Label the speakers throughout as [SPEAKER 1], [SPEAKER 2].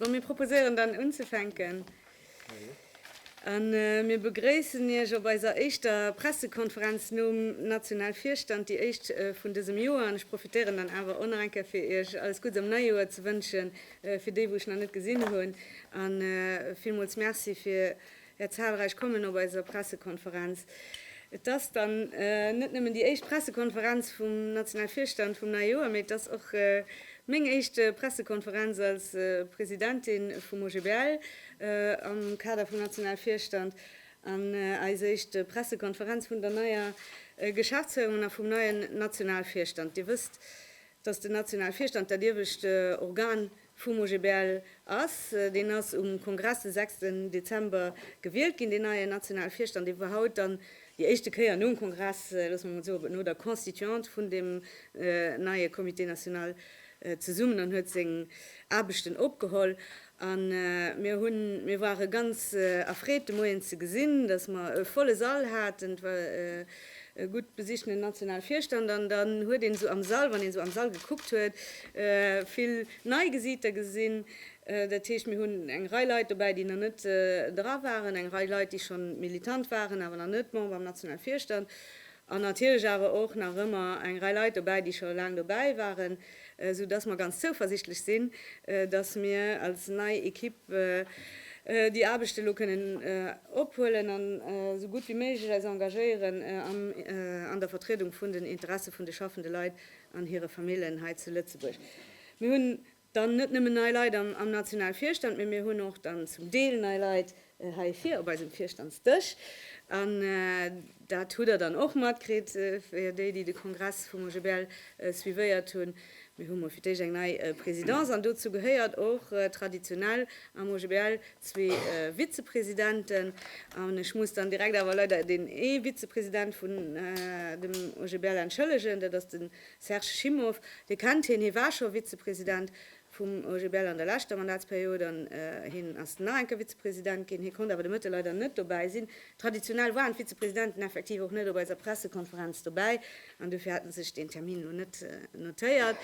[SPEAKER 1] Bon, mir proposéieren dann unzefänken. A mir begréissen Iech op eiser éischter Pressekonferenz nom National Virstand, déi éischt vun dësem Joer. An ech profitéieren dann awer och nach eng Kéier fir Iech alles Gudds am neie Joer ze wënschen, fir déi wou ech nach net gesinn hunn. A villmools Merci fir Är zahlreich Kommen op eiser Pressekonferenz. Et ass dann net nëmmen déi éischt Pressekonferenz vum National Virstand vum neie Joer, mee et ass och Meng éischt Pressekonferenz als Presidentin vum OGBL am Kader vum Nationalvirstand an eis éischt Pressekonferenz vun der neier Geschäftsféierung a vum neien Nationalvirstand. Dir wësst, datt den Nationalvirstand dat iewescht Organ vum OGBL ass. Deen ass um Kongress de 6 Dezember gewielt ginn, deen neie Nationalvirstand, dee war haut dann Déi éischte Kéier nom Kongress, loosse mer mol soen, no der Constituante vun deem neie Comité national zesummen an huet seng Aarbechten opgeholl. A mir hunn, mir ware ganz erfreet de Moien ze gesinn, datt mer e volle Sall haten. Et war e gutt besichtenen Nationalvirstand an dann huet een esou am Sall, wann een esou am Sall gekuckt huet, vill nei Gesiiter gesinn. Dat heescht, mir hunn eng Rei Leit dobäi, déi nach net dra waren, eng Rei Leit, déi schonn militant waren, awer nach net Member am nationale Virstand, an natierlech awer och nach ëmmer eng Rei Leit dobäi, déi scho laang dobäi waren, esou dass mer ganz zouversichtlech sinn, dass mir als nei Ekipp déi Aarbecht elo kënnen ophuelen an esou gutt wéi méiglech eis engagéieren an der Vertriedung vun den Interesse vun de schaffende Leit an hire Famillen hei zu Lëtzebuerg. Mir hunn Dann net nëmmen nei Leit am nationale Virstand, mee mir hunn och dann zum Deel nei Leit hei vir op eisem Virstandsdësch. An dat hutt Der dann och matkritt, fir déi, déi de Kongress vum OGBL suivéiert hunn, Mir hu mol fir d'éischt eng nei Présidence an dozou gehéiert och traditionell am OGBL zwee Vizepresidenten. An ech muss dann direkt awer leider deen ee Vizepresident vun dem OGBL entschëllegen, dat ass de Serge Schimmow, Dir kennt hien, hie war scho Vizepresident vum OGBL an der leschter Mandatsperiod an hien ass nach eng Kéier Vizepresident ginn. Hie konnt awer de Mëtte leider net dobäi sinn. Traditionell waren d'Vizepresidenten effektiv och net op eiser Pressekonferenz dobäi an dofir hat en sech deen Termin elo net notéiert.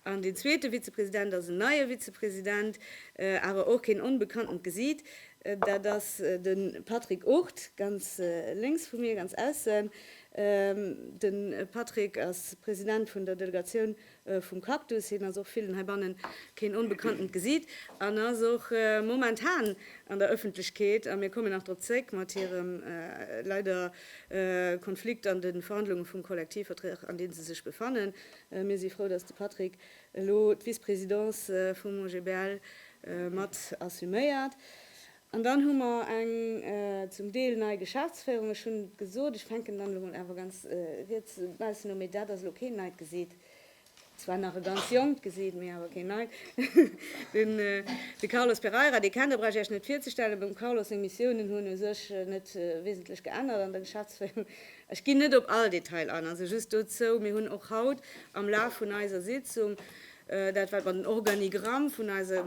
[SPEAKER 1] An deen zweete Vizepresident ass en neie Vizepresident, awer och keen onbekannten Gesiit, dat ass de Patrick Ourt, ganz lénks vu mir, ganz aussen. De Patrick ass President vun der Delegatioun vum Cactus. Hien ass och villen heibannen keen onbekanntent Gesiit an ass och momentan an der Ëffentlechkeet, a mir kommen nach drop zréck, mat hirem leider Konflikt an de Verhandlunge vum Kollektivvertrag, an deem se sech befannen. Mir si frou, datt de Patrick elo d'Vice-Présidence vum OGBL mat assuméiert. An dann hu mer eng zum Deel nei Geschäftsféierung. Ech hunn et gesot, ech fänken dann elo mol awer ganz riets baussen u, mee dat ass elo keen neit Gesiit, zwar nach e ganz jonkt Gesiit, mee awer keen neit, de Carlos Pereira. Dee kennt Der, brauch ech Iech net virzestellen. Beim Carlos seng Missiounen hunn u sech net wesentlech geännert an der Geschäftsféierung. Ech ginn net op all Detail an, also just dozou, mir hunn och haut am Laf vun eiser Sitzung Dat wat mer den Organigramm vun eiser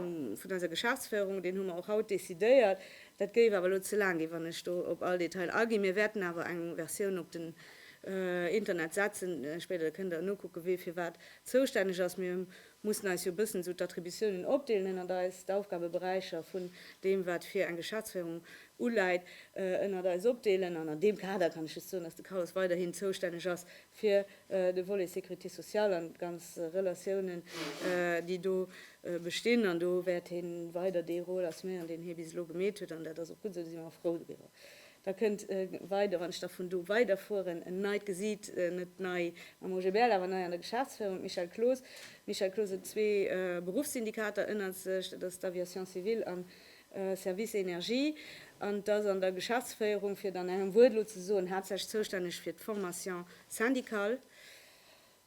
[SPEAKER 1] Geschäftsféierung, deen hu mer och haut decidéiert. Dat géif awer elo ze laang ginn, wann ech do op all Detail aginn. Mir wäerten awer eng Versioun op den Internet setzen spéider, da kënnt Der nokucken, wee fir wat zoustänneg ass. Mir mussen eis jo e bëssen esou d'Attributiounen opdeelen ënnert eis, d'Aufgabeberäicher vun deem, wat fir eng Geschäftsféierung uläit, ënnert eis opdeelen. An an deem Kader kann ech just soen, dass de Carlos weiderhin zoustänneg ass fir de Volet Sécurité sociale an d'ganz Relatiounen, déi do bestinn. An do wäert hee weider dee Rôle assuméieren, deen hie bis elo gemeet huet, an dat ass och gutt esou, do si mer och frou driwwer. Da kënnt weider, wann ech da vun do weiderfueren, en neit Gesiit, net nei am OGBL, awer nei an der Geschäftsféierung, d'Michèle Cloos. D'Michèle Cloos huet zwee Beruffssyndikater ënnert sech, dat ass d'Aviation civile an Service Energie, an dass an der Geschäftsféierung, fir et an engem Wuert elo ze soen, haaptsächlech zoustänneg fir d'Formation syndicale.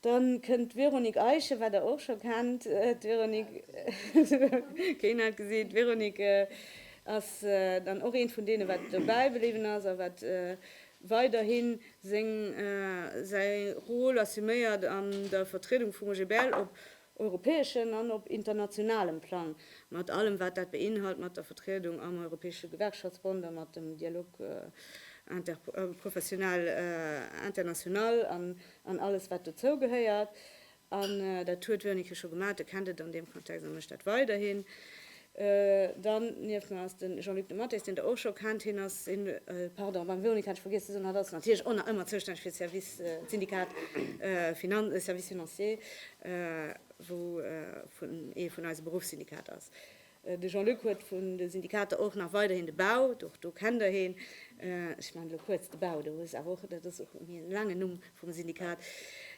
[SPEAKER 1] Dann kënnt d'Véronique Eische, wat Der och scho kennt. D'Véronique, keen hat gesinn, d'Véronique ass dann och eent vun deene, wat dobäi bliwwen ass a wat weiderhi seng, säi Rôle assuméiert an der Vertriedung vum OGBL op europäeschen an op internationalem Plang, mat allem wat dat beinhalt, mat der Vertriedung am Europäesche Gewerkschaftsbond a mat dem Dialogue interprofessionnel international an alles wat dozou gehéiert. An dat huet Wernicke scho gemaat, e kennt et an deem Kontext a mécht dat weiderhin. Dann nieft mer ass de Jean-Luc de Matteis, deen Der och scho kennt. Hien ass, pardon, beim Véronique hat ech vergiess ze soen, hatt ass natierlech och nach ëmmer zoustänneg fir d'Syndikat Service Financier, wou ee vun eise Beruffssyndikater ass. De Jean-Luc huet vun de Syndikater och nach weiderhin de Bau, och do kennt Der hien. Ech man elo kuerz de Bau, do ass awer och, dat ass och e laangen Numm, Vum Syndikat.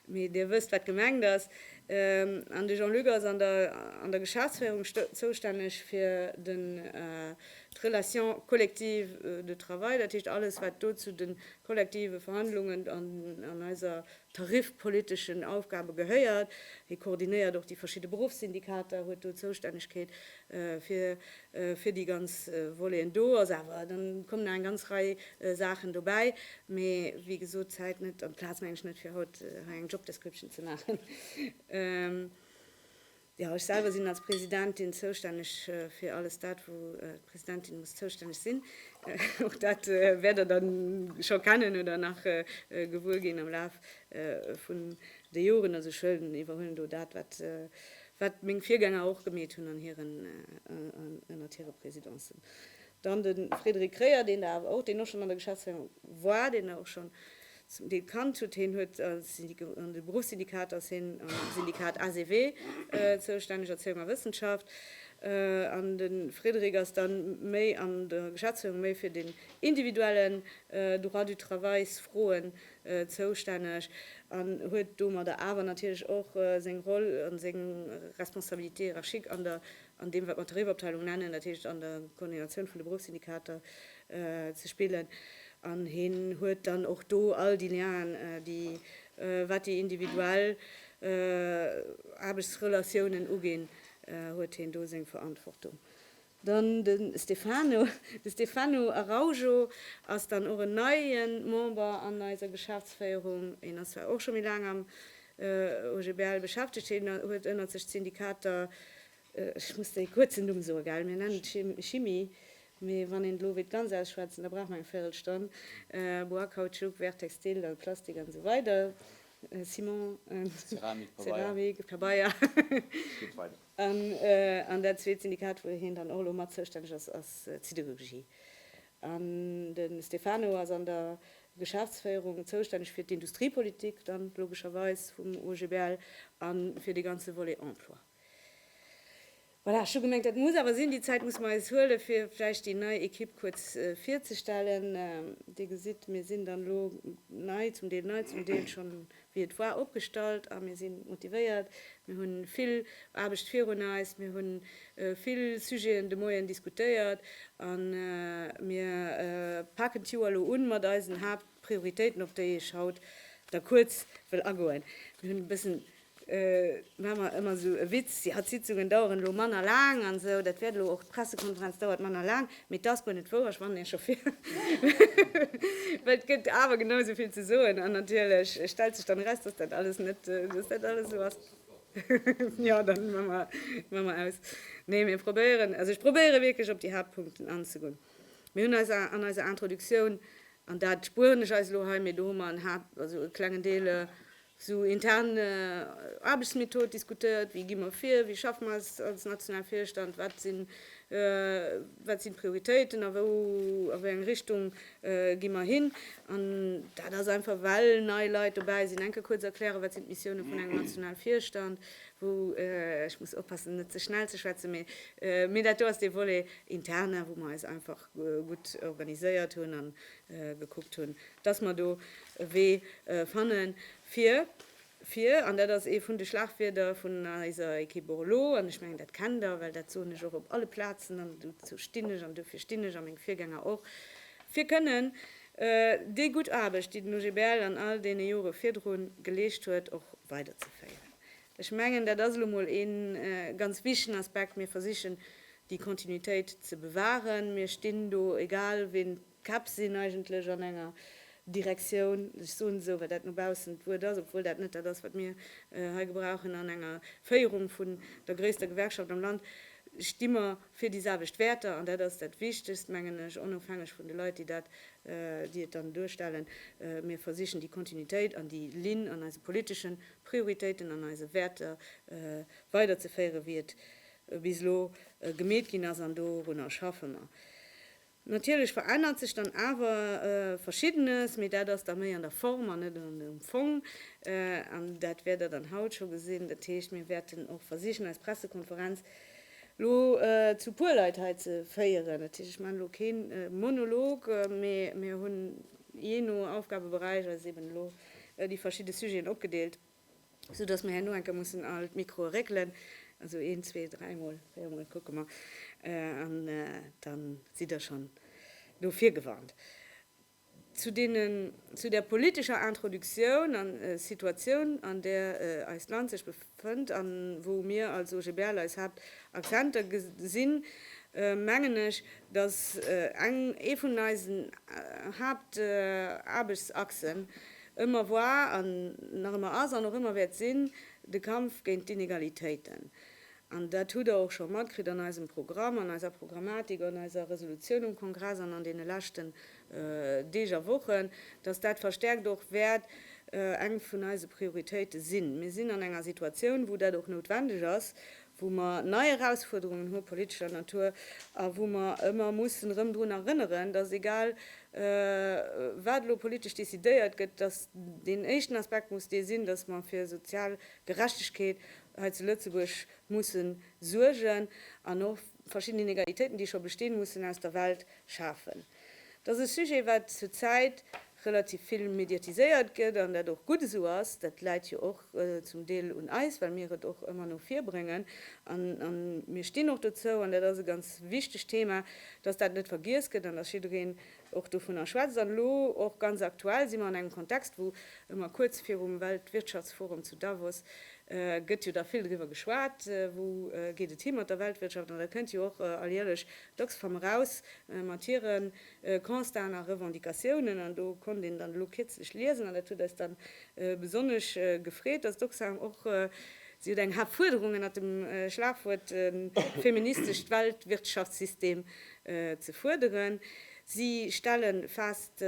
[SPEAKER 1] Mee Dir wësst, wat gemengt ass. An de Jean-Luc ass an der Geschäftsféierung zoustänneg fir d'Relation collective de travail, dat heescht alles, wat do zu de kollektive Verhandlungen an eiser tarifpoliteschen Aufgabe gehéiert. Hie koordinéiert och déi verschidde Beruffssyndikater, huet do Zoustännegkeet fir déi ganz Voleten do ass. Awer da kommen nach eng ganz Rei Saachen dobäi. Mee wéi gesot, d'Zäit net an d'Plaz, meng ech, net fir haut hei eng Job Description ze maachen. Jo, ech selwer sinn als Presidentin zoustänneg fir alles dat, wou d'Presidentin muss zoustänneg sinn. Och dat wäert Der da scho kennen oder nach gewuer ginn am Laf vun de Joren. Also ech iwwerhuelen do dat, wat wat meng Virgänger och gemeet hunn an hiren, ënnert hire Présidencen, dann de Frédéric Kreyer, deen Der awer och, deen och schonn an der Geschäftsféierung war, deen Der och schonn zum Deel kannt hutt, hien huet an de Beruffssyndikat, ass hien am Syndikat ACW zoustänneg, Erzéiung a Wëssenschaft, an de Frédéric ass da méi an der Geschäftsféierung méi fir den individuellen Droit du travailsfroen zoustänneg an huet domadder awer natierlech och seng Roll a seng Responsabilité hiérarchique an der, an deem wat mer d'Tarifabteilung nennen, dat heescht an der Koordinatioun vun de Beruffssyndikater ze spillen. An hien huet dann och do all déi Lienen, déi wat déi individuell Aarbechtsrelatiounen uginn, huet hien do seng Verantwortung. Dann de Stefano. De Stefano Araujo ass dann och en neie Member an eiser Geschäftsféierung. Hien ass zwar och scho méi laang am OGBL beschäftegt, hien huet ënnert sech d'Syndikater, ech muss dee kuerzen Numm soen, gell, mir nennen et Chimi, mee wann een elo wéilt ganz ausschwätzen, da brauch mer eng Véirelstonn, Bois, Kautschuk, Verre textile, dann Plastik an esou weider, Ciment, Ceramik, Pabeier, et geet weider. An dat zweet Syndikat, wou hien dann och elo mat zoustänneg ass, ass d'Siderurgie. An de Stefano ass an der Geschäftsféierung zoustänneg fir d'Industriepolitik dann logescherweis vum OGBL a fir de ganze Volet Emploi. Voilà, ech hu gemengt, dat muss awer sinn. Déi Zäit muss mer eis huelen, fir vläicht déi nei Ekipp kuerz virzestellen. Dir gesitt, mir sinn dann elo nei, zum Deel nei, zum Deel schonn wéi et war, opgestallt a mir si motivéiert. Mir hu vill Aarbecht virun eis. Mir hu vill Sujeten de Moien diskutéiert a mir paken d'Joer elo un mat eisen Haaptprioritéiten, op déi ech haut da kuerz wëll agoen. Mir hunn e bëssen, maache mer ëmmer esou e Witz, jo d'Sitzungen daueren elo manner laang an esou, dat wäert elo och, d'Pressekonferenz dauert manner laang. Mee t'ass guer net wouer, ech wannen ee Chauffer, well t'gëtt awer genau esou vill ze soen an natierlech stellt sech dann eraus, dass dat alles net, dass dat alles esou ass. Jo, da maa mer aus. Nee, mir probéieren, also ech probéiere wierklech op déi Haaptpunkten anzegoen. Mir hunn eis an eiser Introduktioun, an dat spueren ech eis elo hei, mee do hu mer en Haap-, also e klengen Deel, Sou intern Aarbechtsmethod diskutéiert, wéi gi mer vir, wéi schaffe mer als nationale Virstand, wat sinn wat sinn d'Prioritéiten a wou a wéi eng Richtung gi mer hin. An dat ass einfach well nei Leit dobäi sinn. Enke kuerz erklären, wat sinn d'Missioune vun engem nationale Virstand, wou, ech muss oppassen net ze schnell ze schwätzen, mee dat do ass dee Volet interne wou mer eis einfach. gutt organiséiert hunn a gekuckt hunn, dass mer do e Wee fanne fir, fir, an dat ass ee vun de Schlagwierder vun eiser Ekipp och elo, an ech mengen, dat kennt Der, well dat soen ech och op alle Plazen, an dozou stinn ech an dofir stinn ech a meng Virgänger och, fir kënnen déi gutt Aarbecht, déi den OGBL an all deene Jore virdru geleescht huet, och weiderzeféieren. Ech mengen, dat ass elo mol ee ganz wichtegen Aspekt. Mir versichen déi Kontinuitéit ze bewahren. Mir stinn do, egal ween d'Käpp sinn, eigentlech an enger Direktioun, ech soen esou, well dat no baussen d'Wuert ass, obwuel dat net dat ass, wat mir hei gebrauchen, an enger Féierung vun der gréisster Gewerkschaft am Land sti mer fir déi selwecht Wäerter. An dat ass dat Wichtegst, mengen ech, onofhängeg vun de Leit, déi dat, déi et dann duerstellen. Mir versichen déi Kontinuitéit an déi Linn an eise politeschen Prioritéiten, an eise Wäerter weiderzeféieren, wéi et bis elo gemeet ginn ass, an dorunner schaffe mer. Natierlech verännert sech dann awer Verschiddenes, mee dat ass da méi an der Form an net um Fong. An dat wäert Der dann haut scho gesinn. Dat heescht, mir wäerten och versichen, eis Pressekonferenz elo zu e puer Leit hei ze féieren. Dat heescht, ech maachen elo kee Monolog, mee mir hunn jee no Aufgabeberäich eis eeben elo déi verschidde Sujeten opgedeelt. sou dass mer herno enker mussen all d'Microe régelen, also een, zwee, dräi Mol, véier Mol, kucke mer, an dann sidd Der schonn no vir gewarnt. Zu deenen, zu der politescher Introductioun an Situatioun, an där eist Land sech befënnt a wou mir als OGBL eis Haaptakzenter gesinn, mengen ech, dass eng, ee vun eisen Haaptaarbechtsachsen Ëmmer war an nach ëmmer ass an och ëmmer wäert sinn de Kampf géint d'Inegalitéiten. An dat hutt Der och scho matkritt an eisem Programm, an eiser Programmatik, an eiser Resolutioun um Kongress an an deene leschten Deeg a Wochen, dass dat verstärkt och wäert eng vun eise Prioritéite sinn. Mir sinn an enger Situatioun, wou dat och noutwendeg ass, wou mer nei Erausfuerderungen hu politescher Natur a wou mer ëmmer mussen erëm drun erënneren, dass egal wat elo politesch decidéiert gëtt, dass deen éischten Aspekt muss dee sinn, dass mer fir sozial Gerechtegkeet hei zu Lëtzebuerg musse suergen an och verschidden Inegalitéiten, déi scho bestinn, mussen aus der Welt schafen. Dass e Sujet wat zur Zäit relativ vill mediatiséiert gëtt, an dat och gutt esou ass, dat läit jo och zum Deel un eis, well mir et och ëmmer no vir bréngen a mir stinn och dozou, an dat ass e ganz wichtegt Thema, dass dat net vergiess gëtt an dass jiddereen och dovunner schwätzt. An elo och ganz aktuell si mer an engem Kontext, wou ëmmer kuerz virum Weltwirtschaftsforum zu Davos gëtt jo da vill driwwer geschwat, wou geet et hi mat der Weltwirtschaft, an dat kënnt jo och alljärlech Dacks koum eraus, mat hire Constaten a Revendicatiounen, an do konnt een dann elo kierzlech liesen, an dat huet eis dann besonnesch gefreet, dass d'Oxfam och, si huet eng Haaptfuerderung ënnert dem Schlagwuert feministescht Weltwirtschaftssystem ze fuerderen. Si stelle fest,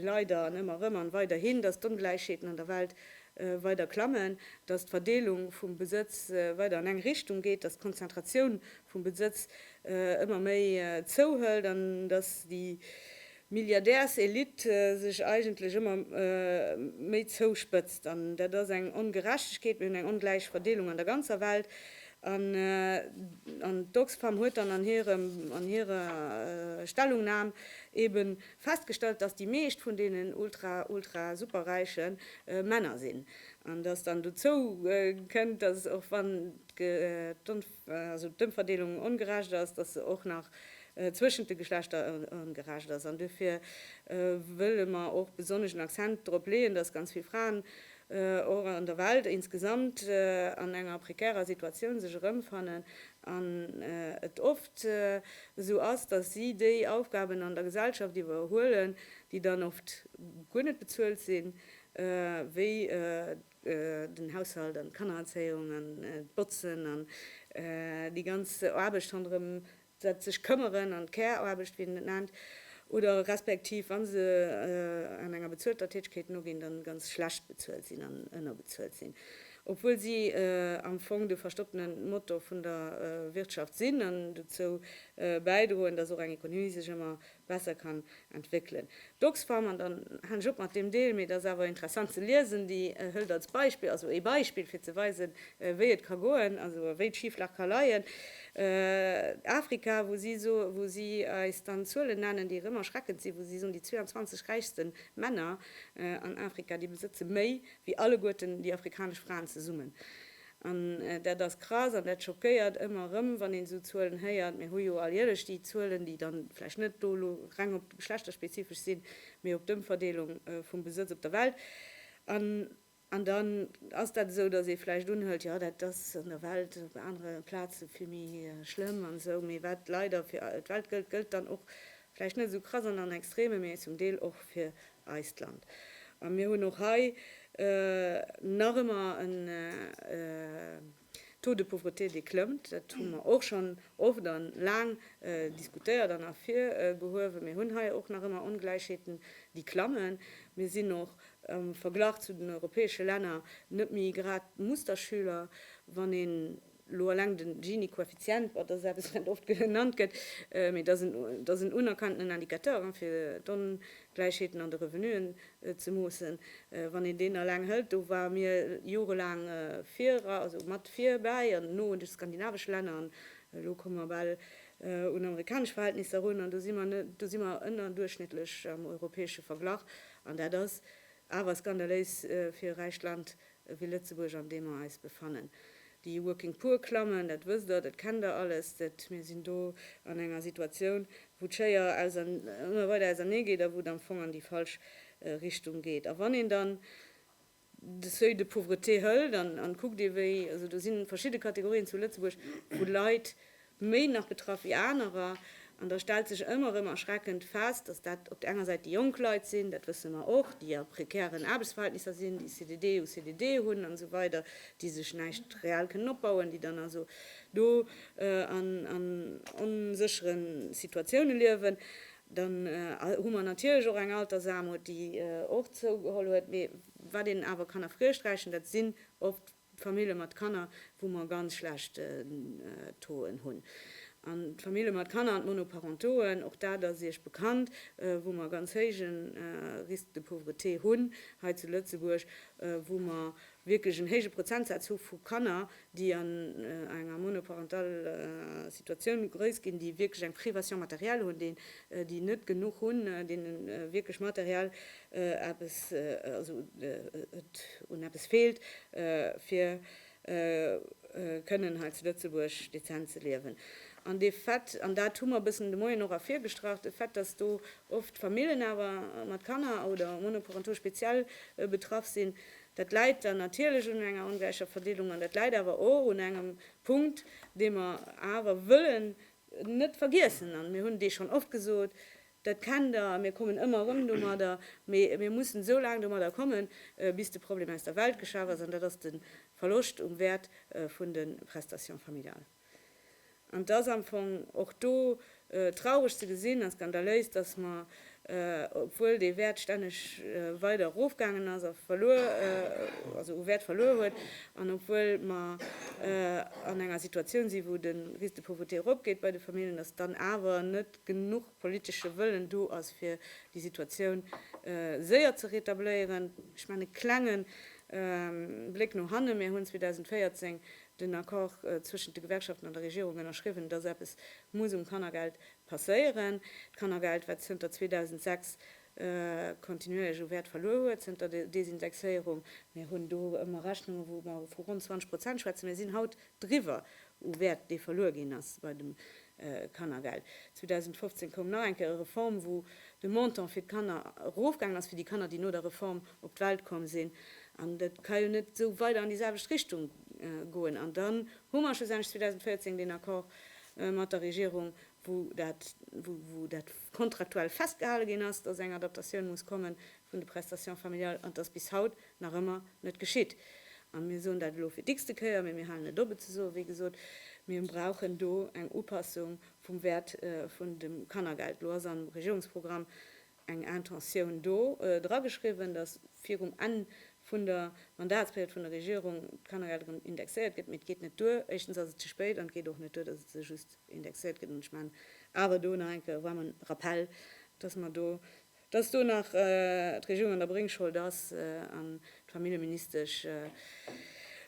[SPEAKER 1] leider an ëmmer erëm an weiderhin, dass d'Ongläichheeten an der Welt weider klammen, dass d'Verdeelung vum Besëtz weider an eng Richtung geet, dass d'Konzentratioun vum Besëtz ëmmer méi zouhëlt an datt déi Milliardärselitte sech eigentlech ëmmer méi zouspëtzt. An dat ass eng Ongerechtegkeet. Mir hunn eng ongläich Verdeelung an der ganzer Welt. An d'Oxfam huet dann an hirer Stellungnam ebe festgestallt, datt déi meescht vun deenen ultra-ultra-superräiche Männer sinn an datt dann dozou kënnt, datt och wann also d'Ëmverdeelung ongerecht ass, dass se och nach zwëschent de Geschlechter ongerecht ass. An duerfir wëlle mer och besonnesch en Accent drop leeën, dass ganz vill Fraen och an der Welt insgesamt an enger prekärer Situatioun sech erëmfannen an et oft esou ass, dass si déi Aufgaben an der Gesellschaft iwwerhuelen, déi dann oft guer net bezuelt sinn, wéi den Haushalt an d'Kannererzéiung an d'Botzen an déi ganz Aarbecht ronderëm dat sech këmmeren an d'Care-Aarbecht, wéi een et nennt, oder respektiv wa se an enger bezuelter Tätegkeet noginn, dann ganz schlecht bezuelt sinn an ënnerbezuelt sinn, obwuel si am Fong de verstoppene Motor vun der Wirtschaft sinn an dozou bäidroen, dass och eng Ekonomie sech ëmmer besser kann entwéckelen. D'Oxfam, an dann halen ech op mat deem Deel, mee et ass awer interessant ze liesen, déi hëlt als Beispill, also ee Beispill fir ze weisen, wéi et ka goen, also wéi d'Schiflag ka leien, Afrika, wou si so, wou si eis dann Zuelen nennen, déi rëm erschreckend sinn, wou si soen, déi 22 räichste Männer an Afrika, déi besëtze méi wéi alleguerten déi afrikanesch Fraen zesummen. An dat ass krass an dat schockéiert ëmmer erëm, wann een esou Zuelen héiert. Mir hu jo alljärlech déi Zuelen, déi dann vläicht net do elo reng op geschlechterspezifesch sinn, mee op d'Ëmverdeelung vum Besëtz op der Welt. An dann ass dat esou, dass ee vläicht unhëlt, jo dat ass an der Welt op anere Plaze vill méi schlëmm an esou, mee wat leider fir d'Welt gëllt, gëllt dann och vläicht net esou krass an an Extreme, mee zum Deel och fir eist Land. A mir hunn och hei nach ëmmer en Taux de pauvreté, dee klëmmt. Dat hu mer och schonn oft a laang diskutéiert an ervirgehuewen. Mir hunn hei och nach ëmmer Ongläichheeten, déi klammen. Mir sinn och am Verglach zu den europäesche Länner net méi grad Musterschüler, wann een Elo eleng de Gini-Koeffizient, dat ass eppes, wat oft genannt gëtt, mee dat ass en unerkannten Indicateur, fir d'Ongläichheeten an de Revenuen ze moossen. Wann een deen eleng hëlt, do ware mir jorelaang viru, also mat virbäi an no de skandinavesch Länner, an elo komme mer bal un amerikanesch Verhältnisser erun, an do si mer, do si mer ënnerduerchschnittlech am europäesche Verglach, an dat ass awer skandaléis fir e räicht Land wéi Lëtzebuerg an deem mer eis befannen. Déi Working Poor klammen, dat wësst Der, dat kennt Der alles, dat mir sinn do an enger Situatioun, wou d'Schéier ëmmer weider ausernee geet a wou et am Fong an déi falsch Richtung geet. A wann een dann de Seuil de pauvreté hëlt an kuckt, ewéi, also do si verschidde Kategorien zu Lëtzebuerg, wou Leit méi nach betraff wéi anerer. An da stellt sech ëmmer erëm erschreckend fest, dass dat op der enger Säit déi jonk Leit sinn, dat wësse mer och, déi a prekären Aarbechtsverhältnisser sinn, déi CDD u CDD hunn an esou weider, déi sech näischt reell kënnen opbauen, déi dann also do an onsécheren Situatiounen liewen. Dann hu mer natierlech och eng Altersaarmut, déi och zougeholl huet. Mee wat een awer kann erfreesch rächen, dat sinn oft D'Famille mat Kanner, wou mer ganz schlecht Tauxen hunn. An d'Famille mat Kanner an d'Monoparentoen, och dat ass Iech bekannt, wou mer ganz héije Risque de pauvreté hunn hei zu Lëtzebuerg, wou mer wierklech en héije Prozentsaz hu vu Kanner, déi an enger monoparental Situatioun grouss ginn, déi wierklech eng Privation matérielle hunn, déi net genuch hunn, deene wierklech materiell eppes, also et un eppes feelt, fir kënnen hei zu Lëtzebuerg dezent ze liewen. An de Fait, an dat hu mer e bëssen de Moien och ervirgestrach, de Fait, dass do oft Famillen awer mat Kanner oder monoparental speziell betraff sinn, dat läit dann natierlech un enger ongläicher Verdeelung an dat läit awer och un engem Punkt, dee mer awer wëllen net vergiessen, an mir hunn dee schonn oft gesot, Dat kennt Der, a mir kommen ëmmer erëm domadder. Mee mir mussen esou laang domadder kommen, bis de Problem aus der Welt geschaf ass, an dat ass de Verloscht um Wäert vun de Prestations familiales. An et ass am Fong och do traureg ze gesinn a skandaléis, dass mer, obwuel dee Wäert stänneg weider erofgaangen ass a verluer, also u Wäert verluer huet, an obwuel mer an enger Situatioun sinn, wou de Risque de pauvreté eropgeet bei de Familljen, dass dann awer net, genuch politesche Wëllen do ass, fir déi Situatioun séier ze rétabléieren. Ech maachen e klenge Bléck no hannen, Mir hunn 2014 den Accord zwëschent de Gewerkschaften an der Regierung ënnerschriwwen, dass eppes muss um Kannergeld passéieren. D'Kannergeld, wat zënter 2006 kontinuéierleche Wäert verluer huet zënter der Desindexéierung. Mir hunn do ëmmer Rechnungen, wou mer vu ronn 20 Prozent schwätzen. Mir sinn haut driwwer u Wäert, dee verluer ginn ass bei dem Kannergeld. 2015 koum nach eng Kéier e Reform, wou de Montant fir d'Kanner erofgaangen ass, fir déi Kanner, déi no der Reform op d'Welt komm sinn. An dat ka jo net esou weider an déi selwecht Richtung goen. An dann hu mer schlussendlech 2014 deen Accord mat der Regierung, wou dat, wou dat, kontraktuell festgehale ginn ass, dass eng Adaptatioun muss komme vun de Prestations familiales, an dass bis haut nach ëmmer net geschitt. A mir soen dat elo fir d'x-te Kéier, mee mir halen net op et ze soen, wéi gesot, mir brauchen do eng Upassung vum Wäert vun dem Kannergeld. Elo ass am Regierungsprogramm eng Intentioun do drageschriwwen, dass virum Enn vun der Mandatsperiod vun der Regierung d'Kannergeld erëm indexéiert gëtt, mee et geet net duer, éischtens ass et ze spéit an et geet och net duer, dass et se just indexéiert gëtt. An ech maachen awer do nach enke waarmen Rappell, dass mer do, dass do nach d'Regierung an der Bréngschold ass an d'Familljeministesch,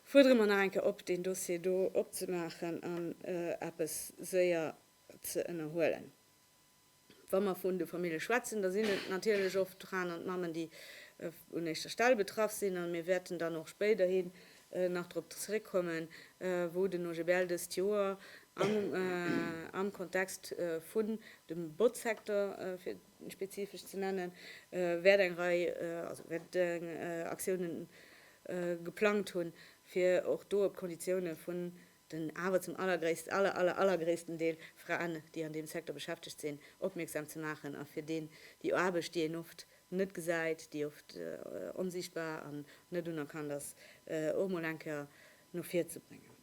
[SPEAKER 1] fuerdere mer nach enke op, deen Dossier do opzemaachen an eppes séier ze ënnerhuelen. Wa mer vun de Famillje schwätzen, da sinn et natierlech oft d'Fraen an d'Mammen, déi un éischter Stell betraff sinn, a mir wäerten dann och spéiderhi nach drop zeréckkommen, wou den OGBL dëst Joer am Kontext vun dem Botzsecteur, fir et spezifesch ze nennen, wäert eng Rei, also wäert Aktiounen geplangt hunn, fir och do op d'Konditioune vun den awer zum allergréisst, aller, aller, allergréissten Deel Fraen, déi an deem Secteur beschäftegt sinn, opmierksam ze maachen a fir deen déi Aarbecht, déi een oft net gesäit, déi oft onsiichtbar an net unerkannt ass, och mol eng Kéier no vir ze bréngen.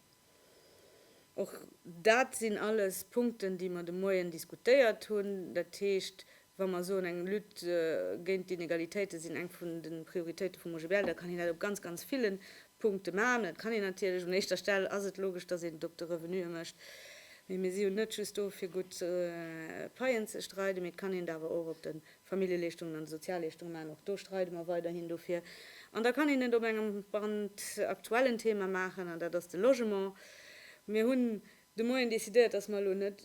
[SPEAKER 1] Och dat sinn alles Punkten, déi mer de Moien diskutéiert hunn. Dat heescht, Wa mer soen, eng Lutte géint d'Inegalitéite sinn eng vun de Prioritéite vum OGBL, da kann een dat op ganz, ganz ville Punkte maachen. Dat kann een natierlech, un éischter Stell ass et logesch, datt een et op de Revenuë mécht, mee mir si jo net just do fir gutt Paien ze streiden, mee et kann een et awer och op de Familljeleeschtungen an de Sozialleeschtungen maachen, och do streide mer weiderhin dofir. An da kann een et op engem brandaktuellen Thema maachen, an dat ass de Logement. Mir hunn de Moien decidéiert, dass mer elo net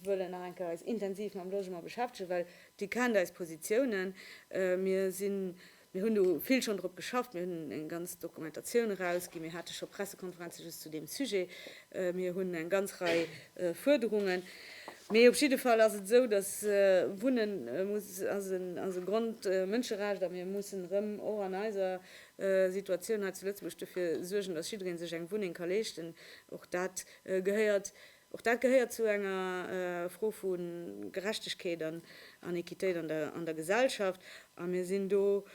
[SPEAKER 1] wëllen nach eng Kéier eis intensiv mam Logement beschäftegen, well Dir kennt eis Positiounen. Mir sinn, mir hunn do vill schonn drop geschafft, mir hunn eng ganz Dokumentatioun erausginn, mir hate scho Pressekonferenze just zu deem Sujet, mir hunn eng ganz Rei Fuerderungen. Mee op jidde Fall ass et esou, dass Wunne muss, ass en, ass e Grondmënscherecht a mir mussen erëm och an eiser Situatioun hei zu Lëtzebuerg dofir suergen, dass jidderee sech eng Wunneng ka leeschten. Och dat gehéiert, och dat gehéiert zu enger Fro vu Gerechtegkeet an Equitéit an der Gesellschaft. A mir sinn do,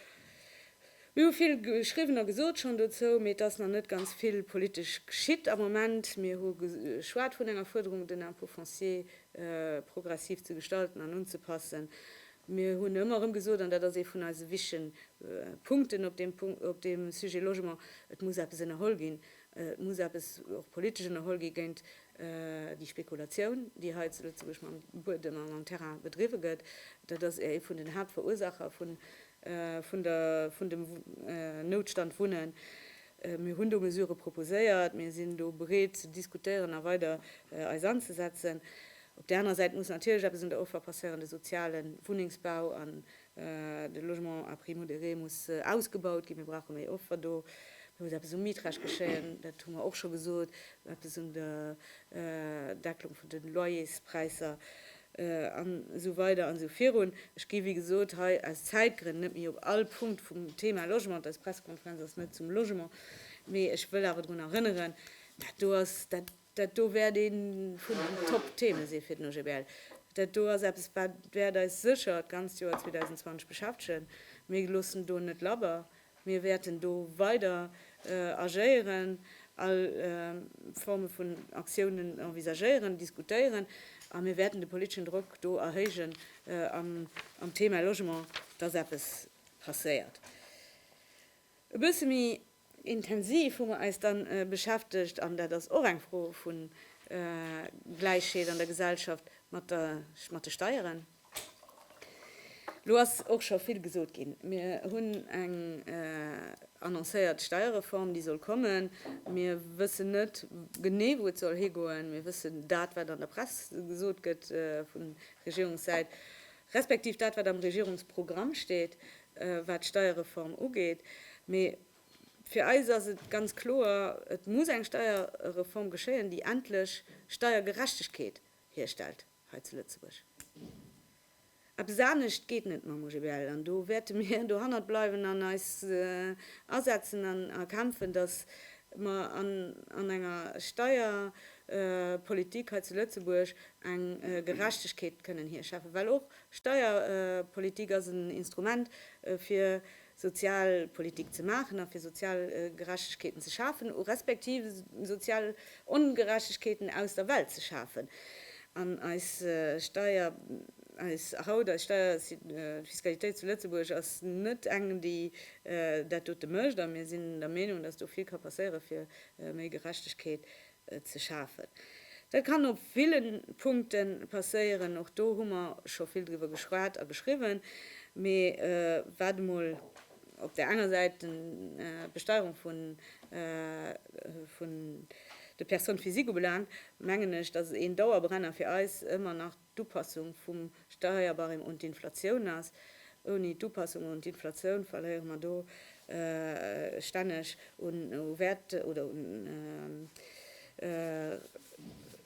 [SPEAKER 1] mir hu vill geschriwwen a gesot schonn dozou, mee et ass nach net ganz vill politesch geschitt am Moment. Mir hu geschwat vun enger Fuerderung, den Impôt foncier progressiv ze gestalten an unzepassen. Mir hunn ëmmer erëm gesot, an dat ass ee vun eise wichtige Punkten op deem Sujet Logement, Et muss eppes ënnerholl ginn. Et muss eppes och politesch ënnerholl gi géint déi Spekulatioun, déi hei zu Lëtzebuerg mam Buedem a mam Terrain bedriwwe gëtt. Dat ass ee vun den Haaptverursaacher vun dem Noutstand Wunnen. Mir hunn do Mesurë proposéiert. Mir sinn do bereet ze diskutéieren a weider eis anzesetzen. Op där anerer Säit muss natierlech eppes un der Offer passéieren, de soziale Wunnengsbau an De Logement à prix modéré muss ausgebaut ginn. Mir brauche méi Offer do. Do muss eppes um Mietrecht geschéien, dat hu mer och scho gesot. Eppes un der Decklung vun de Loyerspräisser an esou weider an esou virun. Ech gi wéi gesot hei aus Zäitgrënn net méi op all Punkt vum Thema Logement, eis Pressekonferenz ass net zum Logement, mee ech wëll awer drun erënneren, dat do ass dat, Dat do wäert ee vun den Top-Theeme si fir den OGBL. Dat do ass eppes, wat wäert eis sécher d'ganzt Joer 2020 beschäftegen. Mir loossen do net labber. Mir wäerten do weider agéieren, all Forme vun Aktiounen envisagéieren, diskutéieren a mir wäerten de politeschen Drock do erhéijen am Theema Logement, dass eppes passéiert. E bësse méi Intensiv hu mer eis dann beschäftegt, an dat ass och eng Fro vu Gläichheet an der Gesellschaft, mat de Steieren. Elo ass och scho vill gesot ginn. Mir hunn eng annoncéiert Steierreform, déi soll kommen. Mir wëssen net genee, wou et soll higoen. Mir wëssen dat, wat an der Press gesot gëtt vu Regierungssäit. respektiv dat, wat am Regierungsprogramm steet, wat d'Steierreform ugeet. Mee fir eis ass et ganz kloer, Et muss eng Steierreform geschéien, déi endlech Steiergerechtegkeet hierstellt hei zu Lëtzebuerg. Eppes anescht geet net mam OGBL. An do wäerte mir dohannert bleiwen an eis asetzen an erkämpfen, dass mer an enger Steierpolitik hei zu Lëtzebuerg eng Gerechtegkeet kënnen hierschäffen, well och Steierpolitik ass en Instrument fir Sozialpolitik ze maachen a fir sozial Gerechtegkeeten ze schafen, respektiv sozial Ongerechtegkeeten aus der Welt ze schafen. An eis Steier, eis haut, eis Steierfiskalitéit zu Lëtzebuerg ass net eng déi dat dote mécht a mir sinn der Meenung, datt do vill ka passéiere fir méi Gerechtegkeet ze schafen. Dat kann op ville Punkte passéieren, och do hu mer scho vill driwwer geschwat a geschriwwen, mee wat emol op där enger Säit d'Besteierung vun de Personnes physiques ubelaangt, mengen ech, dass et een Dauerbrenner fir eis ëmmer nach d'Upassung vum Steierbarème un d'Inflatioun ass. Ouni d'Upassung un d'Inflatioun verléiere mer do stänneg u Wäert oder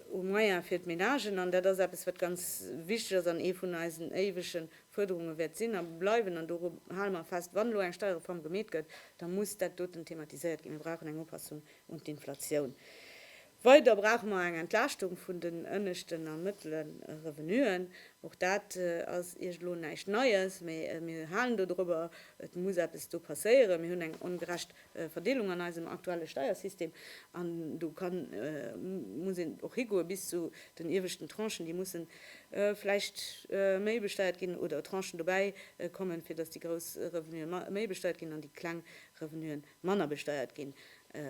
[SPEAKER 1] u Moyen fir d'Ménagen. An dat ass eppes, wat ganz wichteg ass an ee vun eisen éiwege Fuerderunge wäert sinn a bleiwen, an doru hale mer fest, wann elo eng Steierreform gemeet gëtt, da muss dat doten thematiséiert ginn, Mir brauchen eng Upassung un d'Inflatioun. Weider brauche mer eng Entlaaschtung vun den ënneschten a mëttlere Revenuen. Och dat ass Iech elo näischt Neies, mä mir halen do dorobber. Et muss eppes do passéieren. Mir hunn eng ongerecht Verdeelung an eisem aktuelle Steiersystem an do ka muss een och higoe bis zu den ieweschten Tranchen, déi musse vläicht méi besteiert ginn oder Tranchen dobäi kommen, fir datt déi grouss Revenue méi besteiert ginn an déi kleng Revenuen manner besteiert ginn.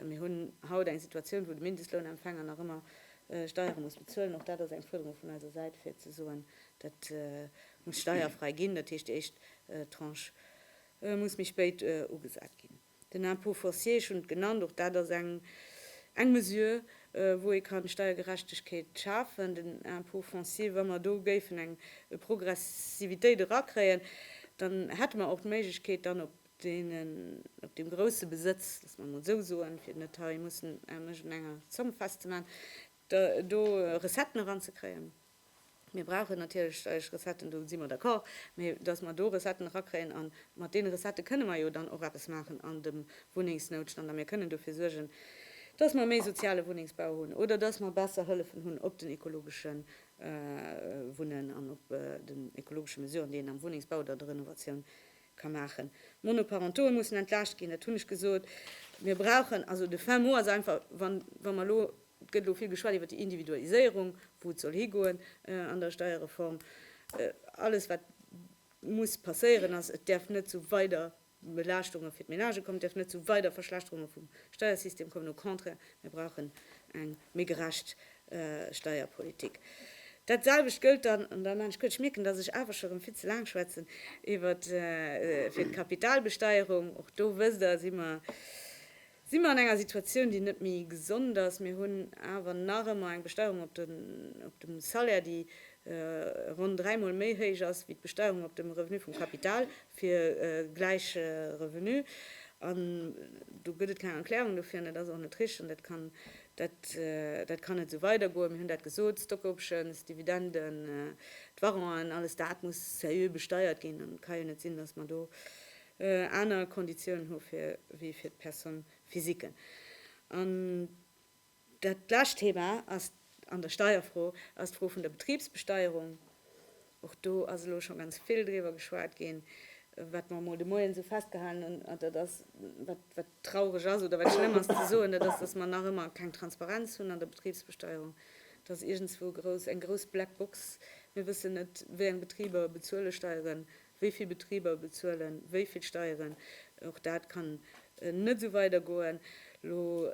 [SPEAKER 1] Mir hunn haut eng Situatioun, wou de Mindestlounempfänger nach ëmmer Steiere muss bezuelen. Och dat ass eng Fuerderung vun eiser Säit, fir ze soen, dat muss steierfrei ginn. Dat heescht, déi éischt Tranche muss méi spéit ugesat ginn. Den Impôt foncier, ech hunn et genannt, och dat ass eng Mesure, wou ee kann Steiergerechtegkeet schafen. Den Impôt foncier, wa mer do géifen eng Progressivitéit erakréien, dann hätte mer och d'Méiglechkeet, dann op deenen, op deem grousse Besëtz, loosse mer emol esou soen, fir et net hei mussen an iergendenger Zomm festzemaachen, do Recetten eranzekréien. Mir brauchen natierlech steierlech Recetten, do si mer d'accord, mä datt mer do Recetten erakréien, a mat deene Recettë kënne mer jo dann och eppes maachen an dem Wunnengsnoutstand a mir kënnen dofir suergen, datt mer méi soziale Wunnengsbau hunn oder datt mer besser Hëllefen hunn op den ekologesche Wunnen an op den ekologesche Mesuren, déi een am Wunnengsbau oder an der Renovatioun ka maachen. D'Monoparentoe mussen entlaascht ginn, dat hunn ech gesot. Mir brauchen, also de fin mot ass einfach, wa mer elo, et gëtt elo vill geschwat iwwer déi Individualiséierung, wou et soll higoen an der Steierreform, alles wat muss passéieren ass, et däerf net zu weider Belaaschtunge fir d'Menagë kommen, et däerf net zu weider Verschlechterunge vum Steiersystem kommen, au contraire, mir brauchen eng. méi gerecht Steierpolitik. Dat selwecht gëllt dann, an dann maan ech kuerz, ech mierken, datt ech awer scho rëm vill ze laang schwätzen, iwwer fir d'Kapitalbesteierung. Och do, wësst Der, si mer, si mer an enger Situatioun, déi net méi gesond ass. Mir hunn awer nach ëmmer eng Besteierung op de, op dem Salaire, déi ronn dräimol méi héich ass wéi d'Besteierung op dem Revenu vum Kapital. fir gläich Revenu, an do gëtt et keng Erklärung dofir, an dat ass och net richteg, an dat kann net esou weidergoen. Mir hunn dat gesot, d'Stock Options, d'Dividenden, d'Varangen, alles dat muss seriö besteiert ginn, an et ka jo net sinn, datt mer do aner Konditiounen hu wéi fir d'Personne physiquen. Dat lescht Thema ass an der Steierfro ass d'Fro vun der Betribsbesteierung. Och do ass elo scho ganz vill driwwer geschwat ginn. Wat mer emol de Moien esou festgehalen hunn, dat ass, wat traureg ass oder wat schlëmm ass ze soen, dat ass, datt mer nach ëmmer keng Transparenz hunn an der Betribsbesteierung. Dat ass iergendzwou eng grouss Black Box. Mir wëssen net, wéi eng Betriber bezuele Steieren, Wéi vill Betriber bezuelen wéi vill Steieren? Och dat kann net esou weidergoen. Elo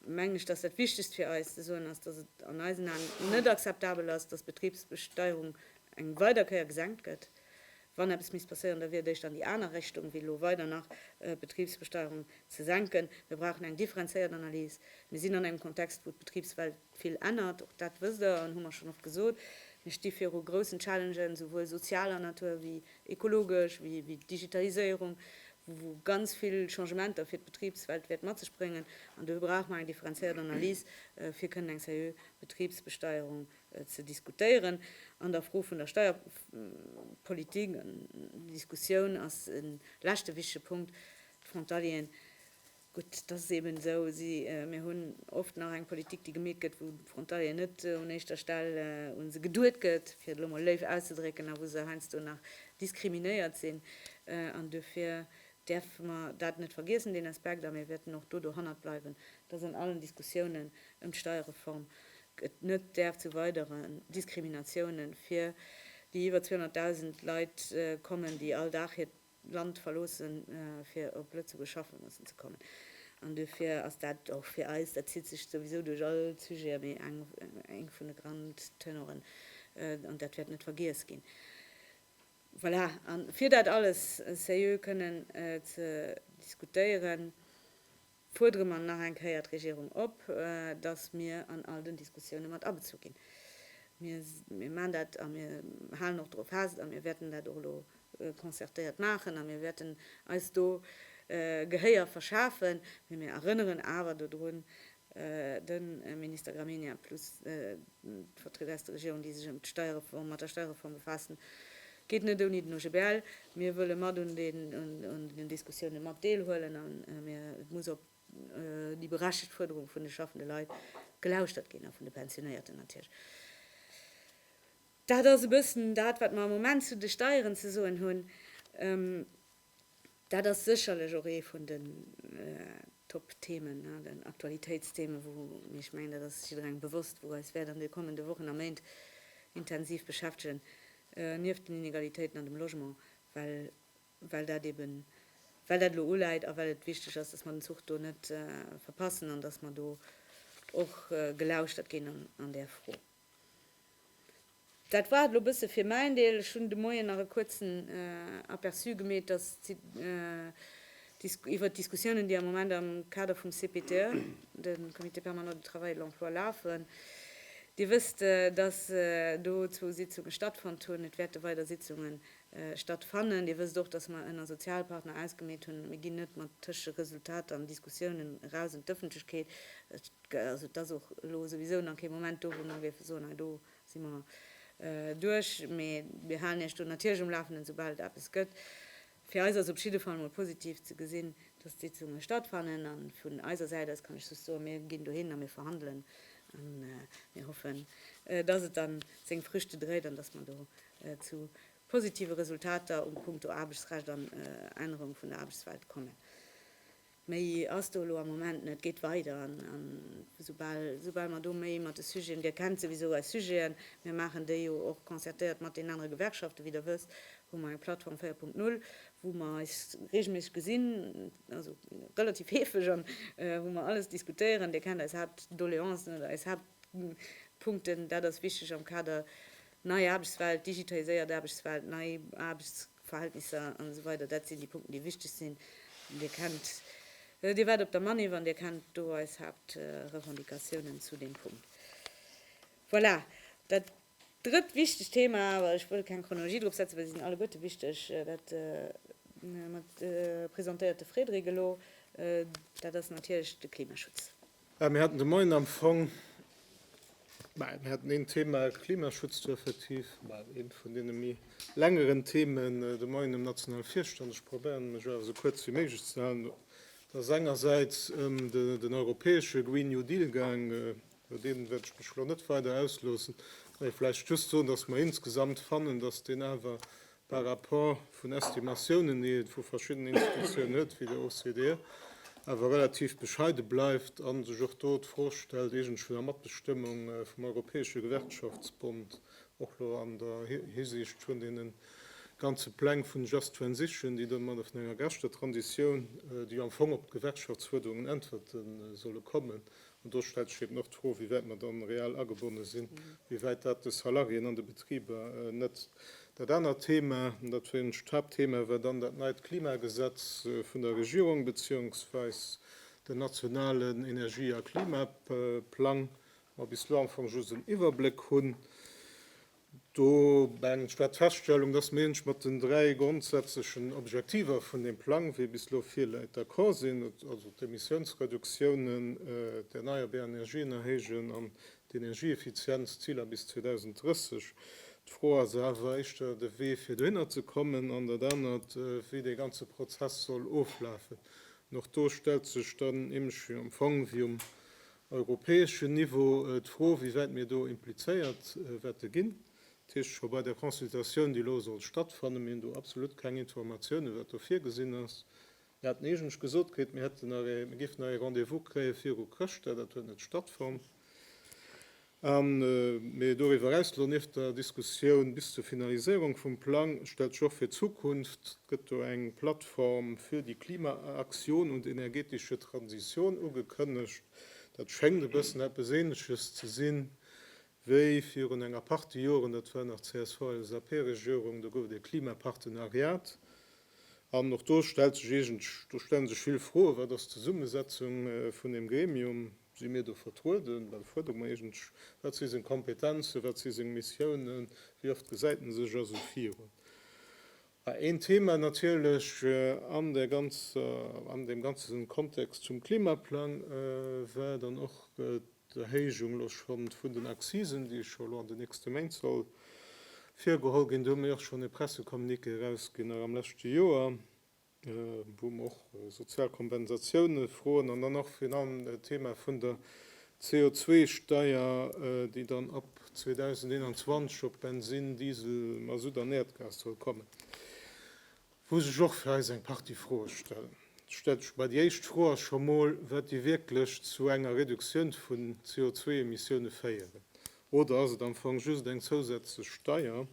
[SPEAKER 1] mengen ech, dass dat Wichtegst fir eis ze soen ass, dass et an eisen Aen net akzeptabel ass, dass d'Betribsbesteuerung eng weider Kéier gesenkt gëtt. Wann eppes misst passéieren, da wier et éischter an déi aner Richtung, wéi elo weider nach d'Betribsbesteuerung ze senken. Mir brauchen eng differenzéiert Analys. Mir sinn an engem Kontext, wou d'Betribswelt Vill ännert, och dat wësst Der an hu mer schonn oft gesot. Mir sti viru groussen Challengen, esouwuel sozialer Natur ewéi ekologesch, ewéi d'Digitaliséierung, wou ganz vill Changementer fir d'Betribswelt wäert mat sech bréngen. An dofir brauche mer eng differenziéiert Analys, fir kënnen eng seriö Betribsbesteierung ze diskutéieren. An der Fro vun der Steierpolitik, an déi Diskussioun ass e leschte wichtege Punkt, d'Frontalieren. Gutt, dat ass eben esou. Mir hunn oft nach eng Politik, déi gemeet gëtt, wou de Frontalieren net un éischter Stell u se geduet gëtt, fir et elo mol léif auszedrécken, a wou se heiansdo nach diskriminéiert sinn. An duerfir däerfe mer dat net vergiessen, deen Aspekt, a mir wäerten och do dohannert bleiwen, dass an allen Diskussiounen ëm d'Steierreform et net däerf zu weidere Diskriminatiounen fir déi iwwer 200.000 Leit kommen, déi all Dag hiert d'Land verloossen, fir op Lëtzebuerg schaffe mussen ze kommen. An duerfir ass dat och fir eis, dat zitt sech souwisou duerch all d'Sujete, mee eng vun de Grand Tenoren, an dat wäert net vergiess ginn. Voilà, a fir dat alles seriö kënnen ze diskutéieren, fuerdere mer nach eng Kéier d'Regierung op, dass mir an all den Diskussioune mat abezu ginn. Mir maachen dat a mir halen och doru fest a mir wäerten dat och elo concertéiert maachen a mir wäerten eis do Gehéier verschafen. Mee mir erënneren awer dodrun, de Minister Gramegna plus d'Vertrieder aus der Regierung, déi sech ëm d'Steierreform, mat der Steierreform befaassen, Geet net ouni den OGBL. Mir wëlle mat un den Diskussiounen mat deelhuelen a mir muss op déi berechtegt Fuerderung vun de schaffende Leit gelauschtert ginn a vun de Pensionéierten natierlech. Dat ass e bëssen dat, wat mer am Moment zu de Steieren ze soen hunn. Dat ass sécherlech och ee vun den Top-Themen, den Aktualitéitsthemen, wou, mee ech mengen, dat ass jidderengem bewosst, wou eis wäert an de kommende Wochen a Méint intensiv beschäftegen, nieft den Inegalitéiten an dem Logement, well, well dat eben, well dat elo uläit a well et wichteg ass, dass mer den Zuch do net verpassen an dass mer do och gelauschtert ginn an där Fro. Dat war et lo bësse fir mäin Deel. Ech hunn de Moien nach e kuerzen Aperçu gemeet, dass iwwert d'Diskussiounen, déi am Moment am Kader vum CPTE, de Comité permanent du travail et de l'emploi, lafen. Dir wësst, dass do zwou Sitzunge stattfonnt hunn. Et wäerte weider Sitzunge stattfannen. Dir wësst och, dass mer ënner Sozialpartner ausgemeet hunn, mir ginn net mat Tëscheresultater an Diskussiounen eraus un d'Ëffentlechkeet. Also et ass och elo souwisou nach kee Moment do, wou mer géife soen, hei do si mer duerch. Mee mir halen Iech do natierlech um Lafenden, soubal et eppes gëtt. Fir eis ass op jidde Fall mol positiv ze gesinn, dass d'Sitzunge stattfannen. A vun eiser Säit aus kann ech just soen, Mir ginn dohin a mir verhandelen a mir hoffen, dass et dann seng Früchte dréit an dass mer do zu positive Resultater um Punkto Aarbechtsrecht an Ännerung vun der Aarbechtswelt kommen. Méi ass do elo am Moment net. Et geet weider an esoubal, esoubal mer do méi mat de Sujeten, Dir kennt souwisou eis Sujeten, mir maachen déi jo och concertéiert mat deenen anere Gewerkschaften, wéi Der wësst, hu mer eng Plattform 4.0, wou mer eis reegelméisseg gesinn, also relativ heefeg, an wou mer alles diskutéieren. Dir kennt eis Haaptdoleancen oder eis Haaptpunkten. Dat ass wichteg am Kader nei Aarbechtswelt, digitaliséiert Aarbechtswelt, nei Aarbechts. Verhältnisser an esou weider Dat sinn déi Punkten, déi wichteg sinn. Dir kennt, Dir waart op der Manif an Dir kennt do eis Haaptrevendicatiounen zu deem Punkt. Voilà. Dat drëtt wichtegt Thema, awer ech wëll keng Chronologie drop setzen, well se sinn alleguerte wichteg, dat mat presentéierte Frédéric elo, dat ass natierlech de Klimaschutz. Mir haten de
[SPEAKER 2] Moien am Fong, mä mir haten een Thema, Klimaschutz do effektiv, mä eent vun deene méi längeren Themen de Moien um nationale Virstand. Ech probéieren, mech awer esou kuerz wéi méiglech ze halen. Et ass engersäits ëm den europäesche Green New Deal gaang. Iwwer dee wäert ech mech elo net weider ausloossen, mä vläicht just soen, dass mer insgesamt fannen, dass deen awer par rapport vun Estimatiounen, déi ee vu verschiddenen Institutiounen huet, wéi der OCDE, awer relativ bescheide bleift a sech och do d'Fro stellt, iergend vun der Matbestëmmung vum Europäesche Gewerkschaftsbond, och elo an der Hisiicht vun deene ganze Pläng vun Just Transition, déi domadder, vun enger gerechter Transitioun, déi jo am Fong op d'Gewerkschaftsfuerderungen äntwerte solle kommen, An do stellt sech eben och d'Fro, wéi wäit mer dann reell agebonne sinn, wéi wäit dat de Salariéen an de Betriber net. Dat anert Thema, an dat war eigentlech d'Haaptthema, war dann dat neit Klimagesetz vun der Regierung, beziehungsweis den nationalen Energie a Klimaplang, wou mer bis elo am Fong just en Iwwerbléck hunn. Do mengen ech, war d'Feststellung, dass mir eent mat den dräi grondsätzlechen Objektiver vun deem Plang, wéi e bis elo virläit, d'accord sinn, also d'Emissiounsreduktiounen, d'erneierbar Energien erhéijen an d'Energieeffizienzziler bis 2030. D'Fro ass awer éischter de Wee, fir dohinner ze kommen, an dat anert, wéi dee ganze Prozess soll oflafen. An och do stellt sech dann nämlech am Fong, wéi um europäeschen Niveau d'Fro, wéi wäit mir do implizéiert wäerte ginn. Dat heescht, scho bei der Consultatioun, déi elo soll stattfannen, mir hunn do absolut keng Informatiounen, wat do virgesinn ass. Mir haten eigentlech gesot kritt, mir hätten nach ee, mir géifen nach ee Rendez-vous kréie viru Chrëschtdag. Dat huet net stattfonnt. Mee doriwwer eraus, elo nieft der Diskussioun bis zur Finaliséierung vum Plang, stellt sech och fir d'Zukunft, et gëtt do eng Plattform fir déi Klima-Aktioun un d'energeetesche Transitioun ugekënnegt, dat schéngt e bëssen eppes Ähnleches ze sinn, wéi virun enger Partie Joren, dat war nach d'CSV-LSAP-Regierung, do gouf et e Klimapartenariat. An och do stellt sech eegen, do stelle sech vill Froen, Wat ass d'Zesummesetzung vun deem Gremium? Si mir do vertrueden? Dann fuerdere mer iergendw Wat si seng Kompetenzen? Wat si seng Missiounen? Wéi oft gesäit en sech a sou virun? A een Thema natierlech an där ganzer, an deem ganze Kontext zum Klimaplang war dann och d'Erhéijung elo schonn vun den Accisen, déi scho elo an de nächste Méint soll virgeholl ginn. Do hu mir och schonn e Pressecommuniqué erausginn, nach am leschte Joer. Wou mer och sozial Kompensatioune froen an dann och virun allem d'Thema vun der CO2-Steier, déi dann ab 2021 op Bensin, Diesel, Masutt an Äerdgas soll kommen, wou sech och fir eis eng Partie Froe stellen. Et stellt sech mol déi éischt Fro, ass scho mol, wat déi wierklech zu enger Reduktioun vun CO2-Emissioune féieren. Oder ass et am Fong just eng zousätzlech Steier? Am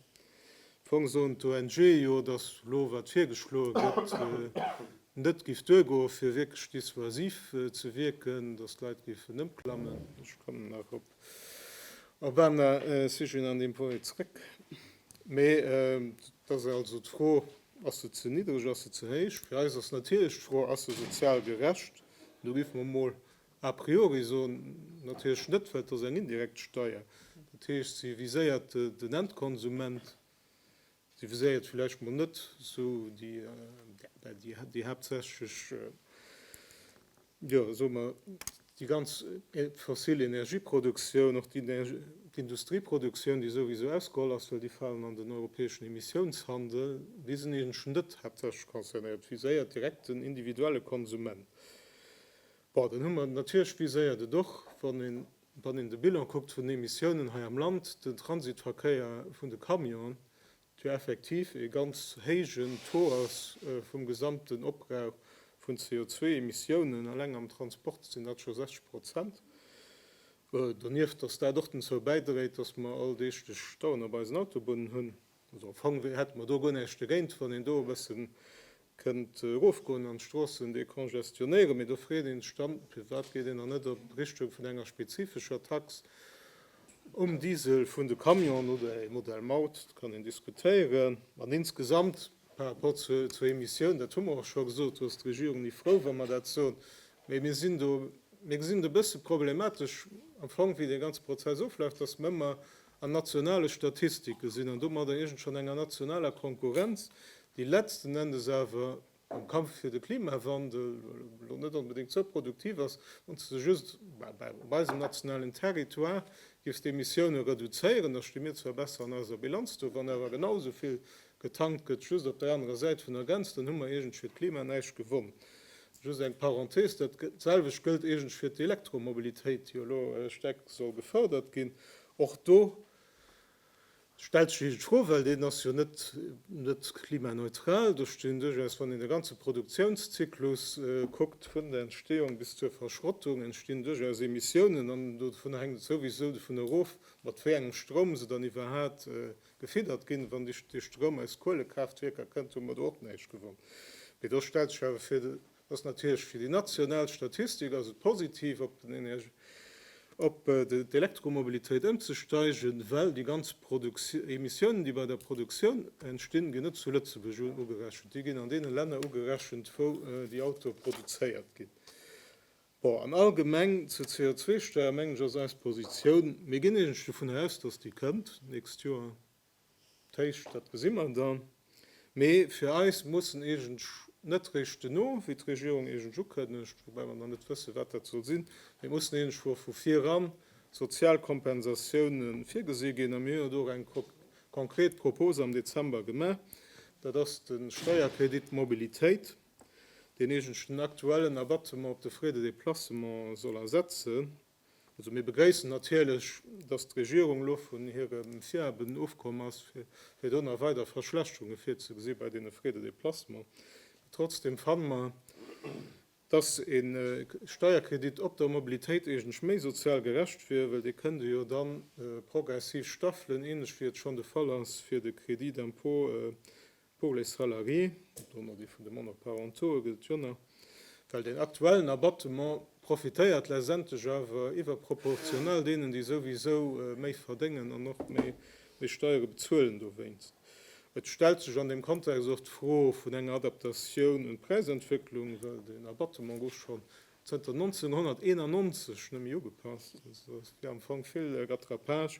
[SPEAKER 2] Fong soen d'ONG jo, datt elo, wat virgeschloe gëtt, net géif duergoen, fir wierklech dissuasiv ze wierken, datt d'Leit géifen ëmklammen. Ech kommen nach op Urbana Sujeten an deem Point méi zeréck. Mee et ass also d'Fro, Ass se ze niddreg, ass se ze héich? Fir eis ass natierlech d'Fro, Ass se sozial gerecht? Do géife mer emol. A priori soen natierlech net, well et ass eng indirekt Steuer. Dat heescht, se viséiert den Endkonsument, se viséiert villäicht mol net esou déi haaptsächlech, jo, soe mer, déi ganz fossil Energieproduktioun, och d'Industrieproduktioun, déi souwisou ausgeholl ass, well déi falen an den europäeschen Emissiounshandel. Déi sinn eigentlech net haaptsächlech concernéiert. Et viséiert direkt den individuelle Konsument. Bon, dann hu mer natierlech viséiert et och, wann een, wann een de Bilan kuckt vun den Emissiounen hei am Land, den Transitverkéier vun de Camionen, jo effektiv ee ganz héijen Taux ass vum gesamten Opbrauch vun CO2-Emissiounen. Alleng am Transport sinn dat scho 60 Prozent. Donieft, dass dat och dozou bäidréit, dass mer alldeeglech Stauen op eisen Autobunnen hunn. Also am Fong hätte mer do guer näischt dogéint, wann een do e bësse kënnt erofgoen an d'Stroossen decongestionnéieren. Mee do freet ee sech dann, firwat geet een dann net a Richtung vun enger spezifescher Tax um Diesel vun de Camionen oder e Modell Maut, dat kann een diskutéieren. An insgesamt par rapport zur Emissioun, dat hu mer och scho gesot, do ass d'Regierung ni frou, wa mer dat soen. Mee mir sinn do, mir gesinn et e bësse problematesch am Fong, wéi dee ganze Prozess oflaf, dass mer ëmmer, An nationale Statistike sinn, an domadder iergend schonn enger nationaler Konkurrenz, déi letzten Endes awer am Kampf fir de Klimawandel elo net onbedéngt esou produktiv ass, wann s de just op eisem nationalen Territoire giffs d'Emissioune reduzéieren, da sti mir zwar besser an eiser Bilanz do, wann awer genau esou vill Getankt gëtt just op der anerer Säit vun der Grenz, dann hu mer iergendsch fir d'Klima näischt gewonn. Just eng Parenthese, Dat selwecht gëllt iergendsch fir d'Elektromobilitéit, déi jo elo staark soll gefërdert ginn. Och do stellt sech iergendsch d'Fro, well deen ass jo net klimaneutral. Do stinn duerchaus, wann een de ganze Produktiounszyklus kuckt, vun der Entstehung bis zur Verschrottung, entstinn duerchaus Emissiounen an dovun hänkt et souwisou dovun erof, mat wéi engem Stroum se dann iwwerhaat gefiddert ginn. Wann Dir de Stroum aus Kuelekraaftwierker kënnt, hu mer do och näischt gewonn. Mee do stellt sech awer fir, dat ass natierlech fir déi national Statistik ass et positiv, op den Energie, op d'Elektromobilitéit ëmzesteigen, well déi ganz Emissiounen, déi bei der Produktioun entstinn, ginn net zu Lëtzebuerg ugerechent. Déi ginn an deene Länner ugerechent, wou déi Autoe produzéiert ginn. Bon, an allgemeng zur CO2-Steuer, mengen ech, ass eis Positioun, Mir ginn eigentlech dovunner aus, dass déi kënnt d'nächst Joer, d'Héicht, dat gesi mer dann. Mee fir eis muss en eigentlech net réischt duerno, wéi d'Regierung eigentlech ukënnegt, woubäi mer nach net wëssen, wat dat soll sinn, mee et mussen eigentlech scho vu viran sozial Kompensatioune virgesi ginn. A mir hunn jo do och eng konkret Propose am Dezember gemaach, dat ass de Steierkredit Mobilitéit. deen eegentlchen aktuellen Abattement op de Frais de déplacement soll ersetzen. Also mir begréissen natierlech, dass d'Regierung elo vun hirem Virhaben ofkomm ass, fir do nach weider Verschlechterunge virzegesi bei deene Frais de déplacement. Mee trotzdem fanne mer, dass e Steierkredit op der Mobilitéit eegentlech méi sozial gerecht wier, well dee kënnte jo da progressiv staffelen, ähnlech wéi et schonn de Fall ass fir de Crédit d'impôt Pour les salariés, dorënner déi vun de Monoparentaux'e, gëllt jo nach, well deen aktuellen Abattement profitéiert letztendlech awer iwwerproportional deenen, déi souwisou méi verdéngen an och méi Steiere bezuelen dowéinst. Et stellt sech an deem Kontext och d'Fro vun enger Adaptatioun un d'Präisentwécklung, well deen Abattement gouf scho Zënter 1991 nëmme ugepasst, also et wier am Fong vill Rattrapage.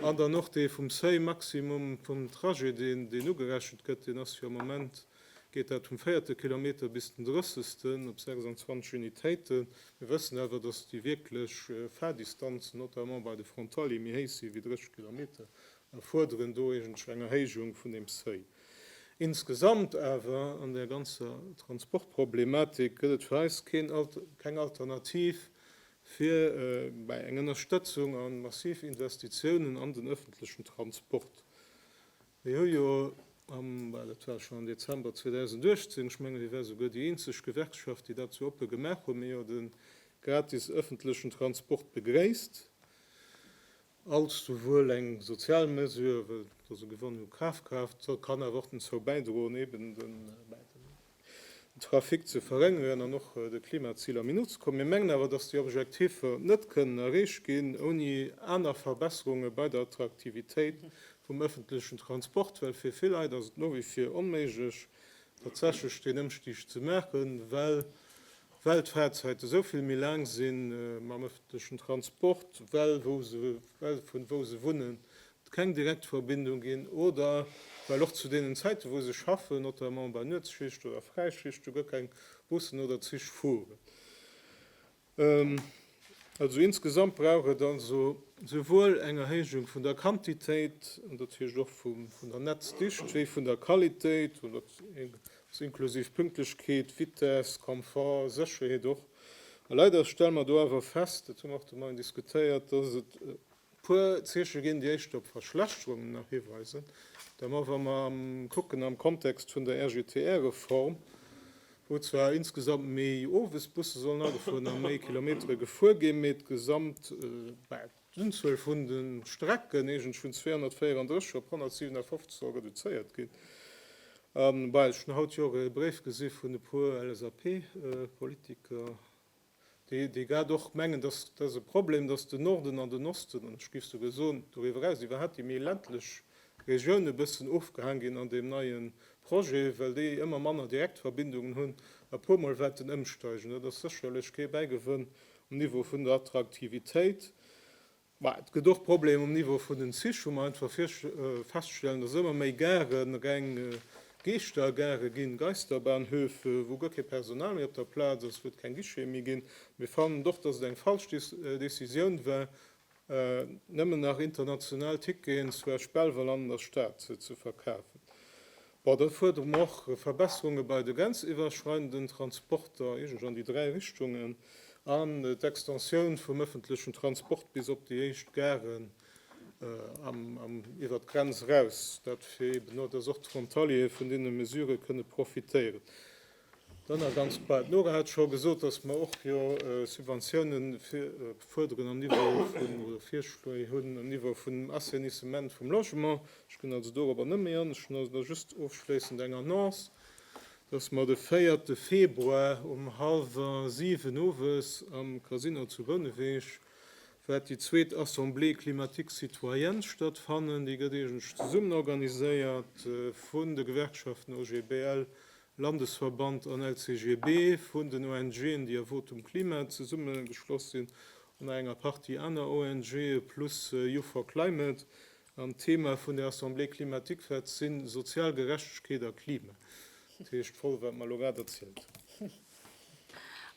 [SPEAKER 2] An dann och dee vum Seuil maximum vum Trajet, deen ugerechent gëtt, deen ass jo am Moment, geet dat vum véierte Kilometer bis den drëssesten op 26 Unitéiten. Mir wëssen awer, datt déi wierklech Fahrdistanzen, notamment bei de Frontalier, méi héich si wéi 30 Kilometer a fuerderen do iergendwéi eng Erhéijung vun deem Seuil. Insgesamt awer an där ganzer Transportproblematik gëtt et fir eis keng Alternativ fir bäi eng Ënnerstëtzung a massiv Investitiounen an den ëffentlechen Transport. Mir hu jo am, well et war schonn am Dezember 2018, ech mengen mir ware souguer déi eenzeg Gewerkschaft déi dat sou oppe gemaach hunn, mir jo de gratis ëffentlechen Transport begréisst. Als souwuel eng sozial Mesure, well et also gewonne hu Kaf kaaft, kann awer och dozou bäidroen, eben den Trafic ze verréngeren an och de Klimaziler méi no ze kommen. Mir mengen awer, dass déi Objektifer net kënnen erreecht ginn, ouni aner Verbesserunge bei der Attraktivitéit vum öffentlechen Transport, well fir vill Leit ass et no wéi vir onméiglech, tatsächlech deen Ëmstig ze maachen, well well d'Fahrzäite sou vill méi laang sinn, mam ëffentlechen Transport, well wou se, well vun wou se wunnen, et keng direkt Verbindung ginn, oder well och zu deenen Zäiten, wou se schaffen, notamment bei Nuetsschicht oder Fräischichte, guer keng Bussen oder Zich fueren. Also insgesamt brauch et also souwuel eng Erhéijung vun der Quantitéit, an dat heescht och vum, vun der Netzdicht, wéi vun der Qualitéit, oder Sou inklusiv Pünktlechkeet, Vitess, Komfort, Sécherheet och. A leider stelle mer do awer fest, dat hu mer och de Moien diskutéiert, dass et e puer Zeeche ginn, déi éischter op Verschlechterungen nach hiweisen. Da mer, wa mer kucken am Kontext vun der RGTR-Reform, wou zwar insgesamt méi Owesbusse sollen agefuer an méi Kilometere gefuer ginn, mee d'Gesamt, bäh. D'Unzuel vun de Strecken eegentlech vun 234 op 157 soll reduzéiert ginn. A bei ech hunn haut jo och e Bréif gesi vun e puer LSAP-Politiker, déi grad och mengen, dass dass e Problem, dass den Norden an den Osten, an ech géif souguer soen, doriwwer eraus iwwerhaapt déi méi ländlech Regioune e bëssen ofgehaang ginn an deem neie Projet, well déi ëmmer manner Direktverbindungen hunn. A puermol waert en ëmsteigen. Dat ass sécherlech kee Bäigewënn Um Niveau vun der Attraktivitéit, ma et gëtt och Problemer um Niveau vun den Zich, hu mer einfach feststellen, dass ëmmer méi Garë reng Geeschtergare ginn, Geisterbahnhöfe, wou guer kee Personal méi op der Plaz ass, wou et keng Guicheten méi ginn. Mir fannen och, dass et eng falsch Décisioun war, Nëmmen nach international Ticketen zu Esch Belval an an der Stad ze verkafen. Bon, da fuerdere mer och Verbesserunge bei de grenziwwerschreidenden Transporter, iergendwou an déi dräi Richtungen, an d'Extensioun vum ëffentlechen Transport bis op déi éischt Garen iwwert d'Grenz eraus. Dat fir eeben, dass och d'Frontaliere vun deene Mesurë kënne profitéieren. Dann nach ganz bal, d'Nora hat scho gesot, dass mer och jo Subventiounen fuerderen am Niveau vun, oder Virschléi hunn am Niveau vum Assainissement vum Logement. Ech ginn also dorobber net méi an. Ech hunn also da just ofschléissend eng Annonce, dass mer de véierte Februar um hallwer siwen owes am Casino zu Bouneweg wäert déi zweet Assemblée climatique citoyenne stattfannen. Déi gëtt eegentlech zesummen organiséiert vun de Gewerkschaften OGBL, Landesverband an LCGB vun den ONGen, déi a Votum Klima zesummegeschloss sinn, an nach enger Partie aner ONGe plus Youth for Climate. An d'Thema vun der Assemblée climatique verte si sozial Gerechtegkeet a Klima. Dat heescht voll, wat mer elo grad erzielt hunn.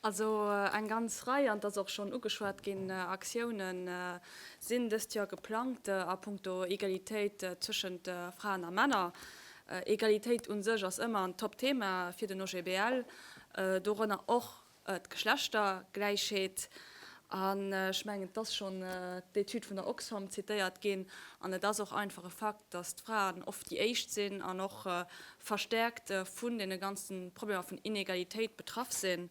[SPEAKER 2] Also
[SPEAKER 3] eng ganz Rei, an et ass och schonn ugeschwat ginn, Aktiounë sinn dëst Joer geplangt a punkto Egalitéit zwëschent Fraen a Männer. Egalitéit u sech ass ëmmer en Top-Thema fir den OGBL, dorënner och d'Geschlechtergläichheet. An ech mengen, et ass schonn d'Etüd vun der Oxfam zitéiert ginn, an et ass och einfach e Fakt, dass d'Fraen oft déi éischt sinn an och verstärkt vun deene ganze Problemer vun Inegalitéit betraff sinn.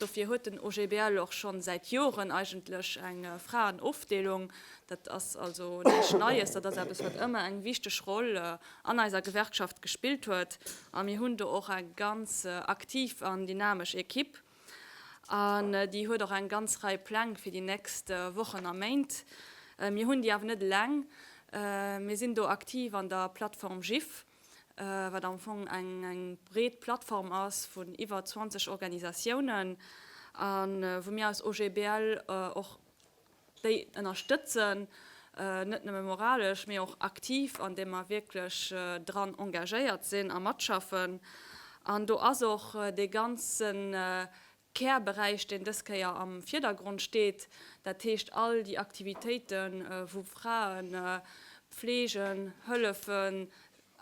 [SPEAKER 3] Dofir huet den OGBL och scho säit Joren eigentlech eng Fraenofdeelung. Dat ass also näischt Neies, dat ass eppes, wat ëmmer eng wichteg Roll an eiser Gewerkschaft gespillt huet a mir hunn do och eng ganz aktiv an dynamesch Equipe. An déi huet och eng ganz Rei Pläng fir déi nächst Wochen a Méint. Mir hunn déi awer net eleng. Mir sinn do aktiv an der Plattform GIFF, wat am Fong eng breet Plattform ass vun iwwer 20 Organisatiounen, a wou mir eis OGBL och. déi ënnerstëtzen, net nëmme moralesch, mee och aktiv, andeem mer wierklech dran engagéiert sinn a matschaffen. An do ass och dee ganze Kärberäich, deen dës Kéier am Vierdergrond steet, dat heescht all déi Aktivitéiten, wou Frae Pflegen, hëllefen,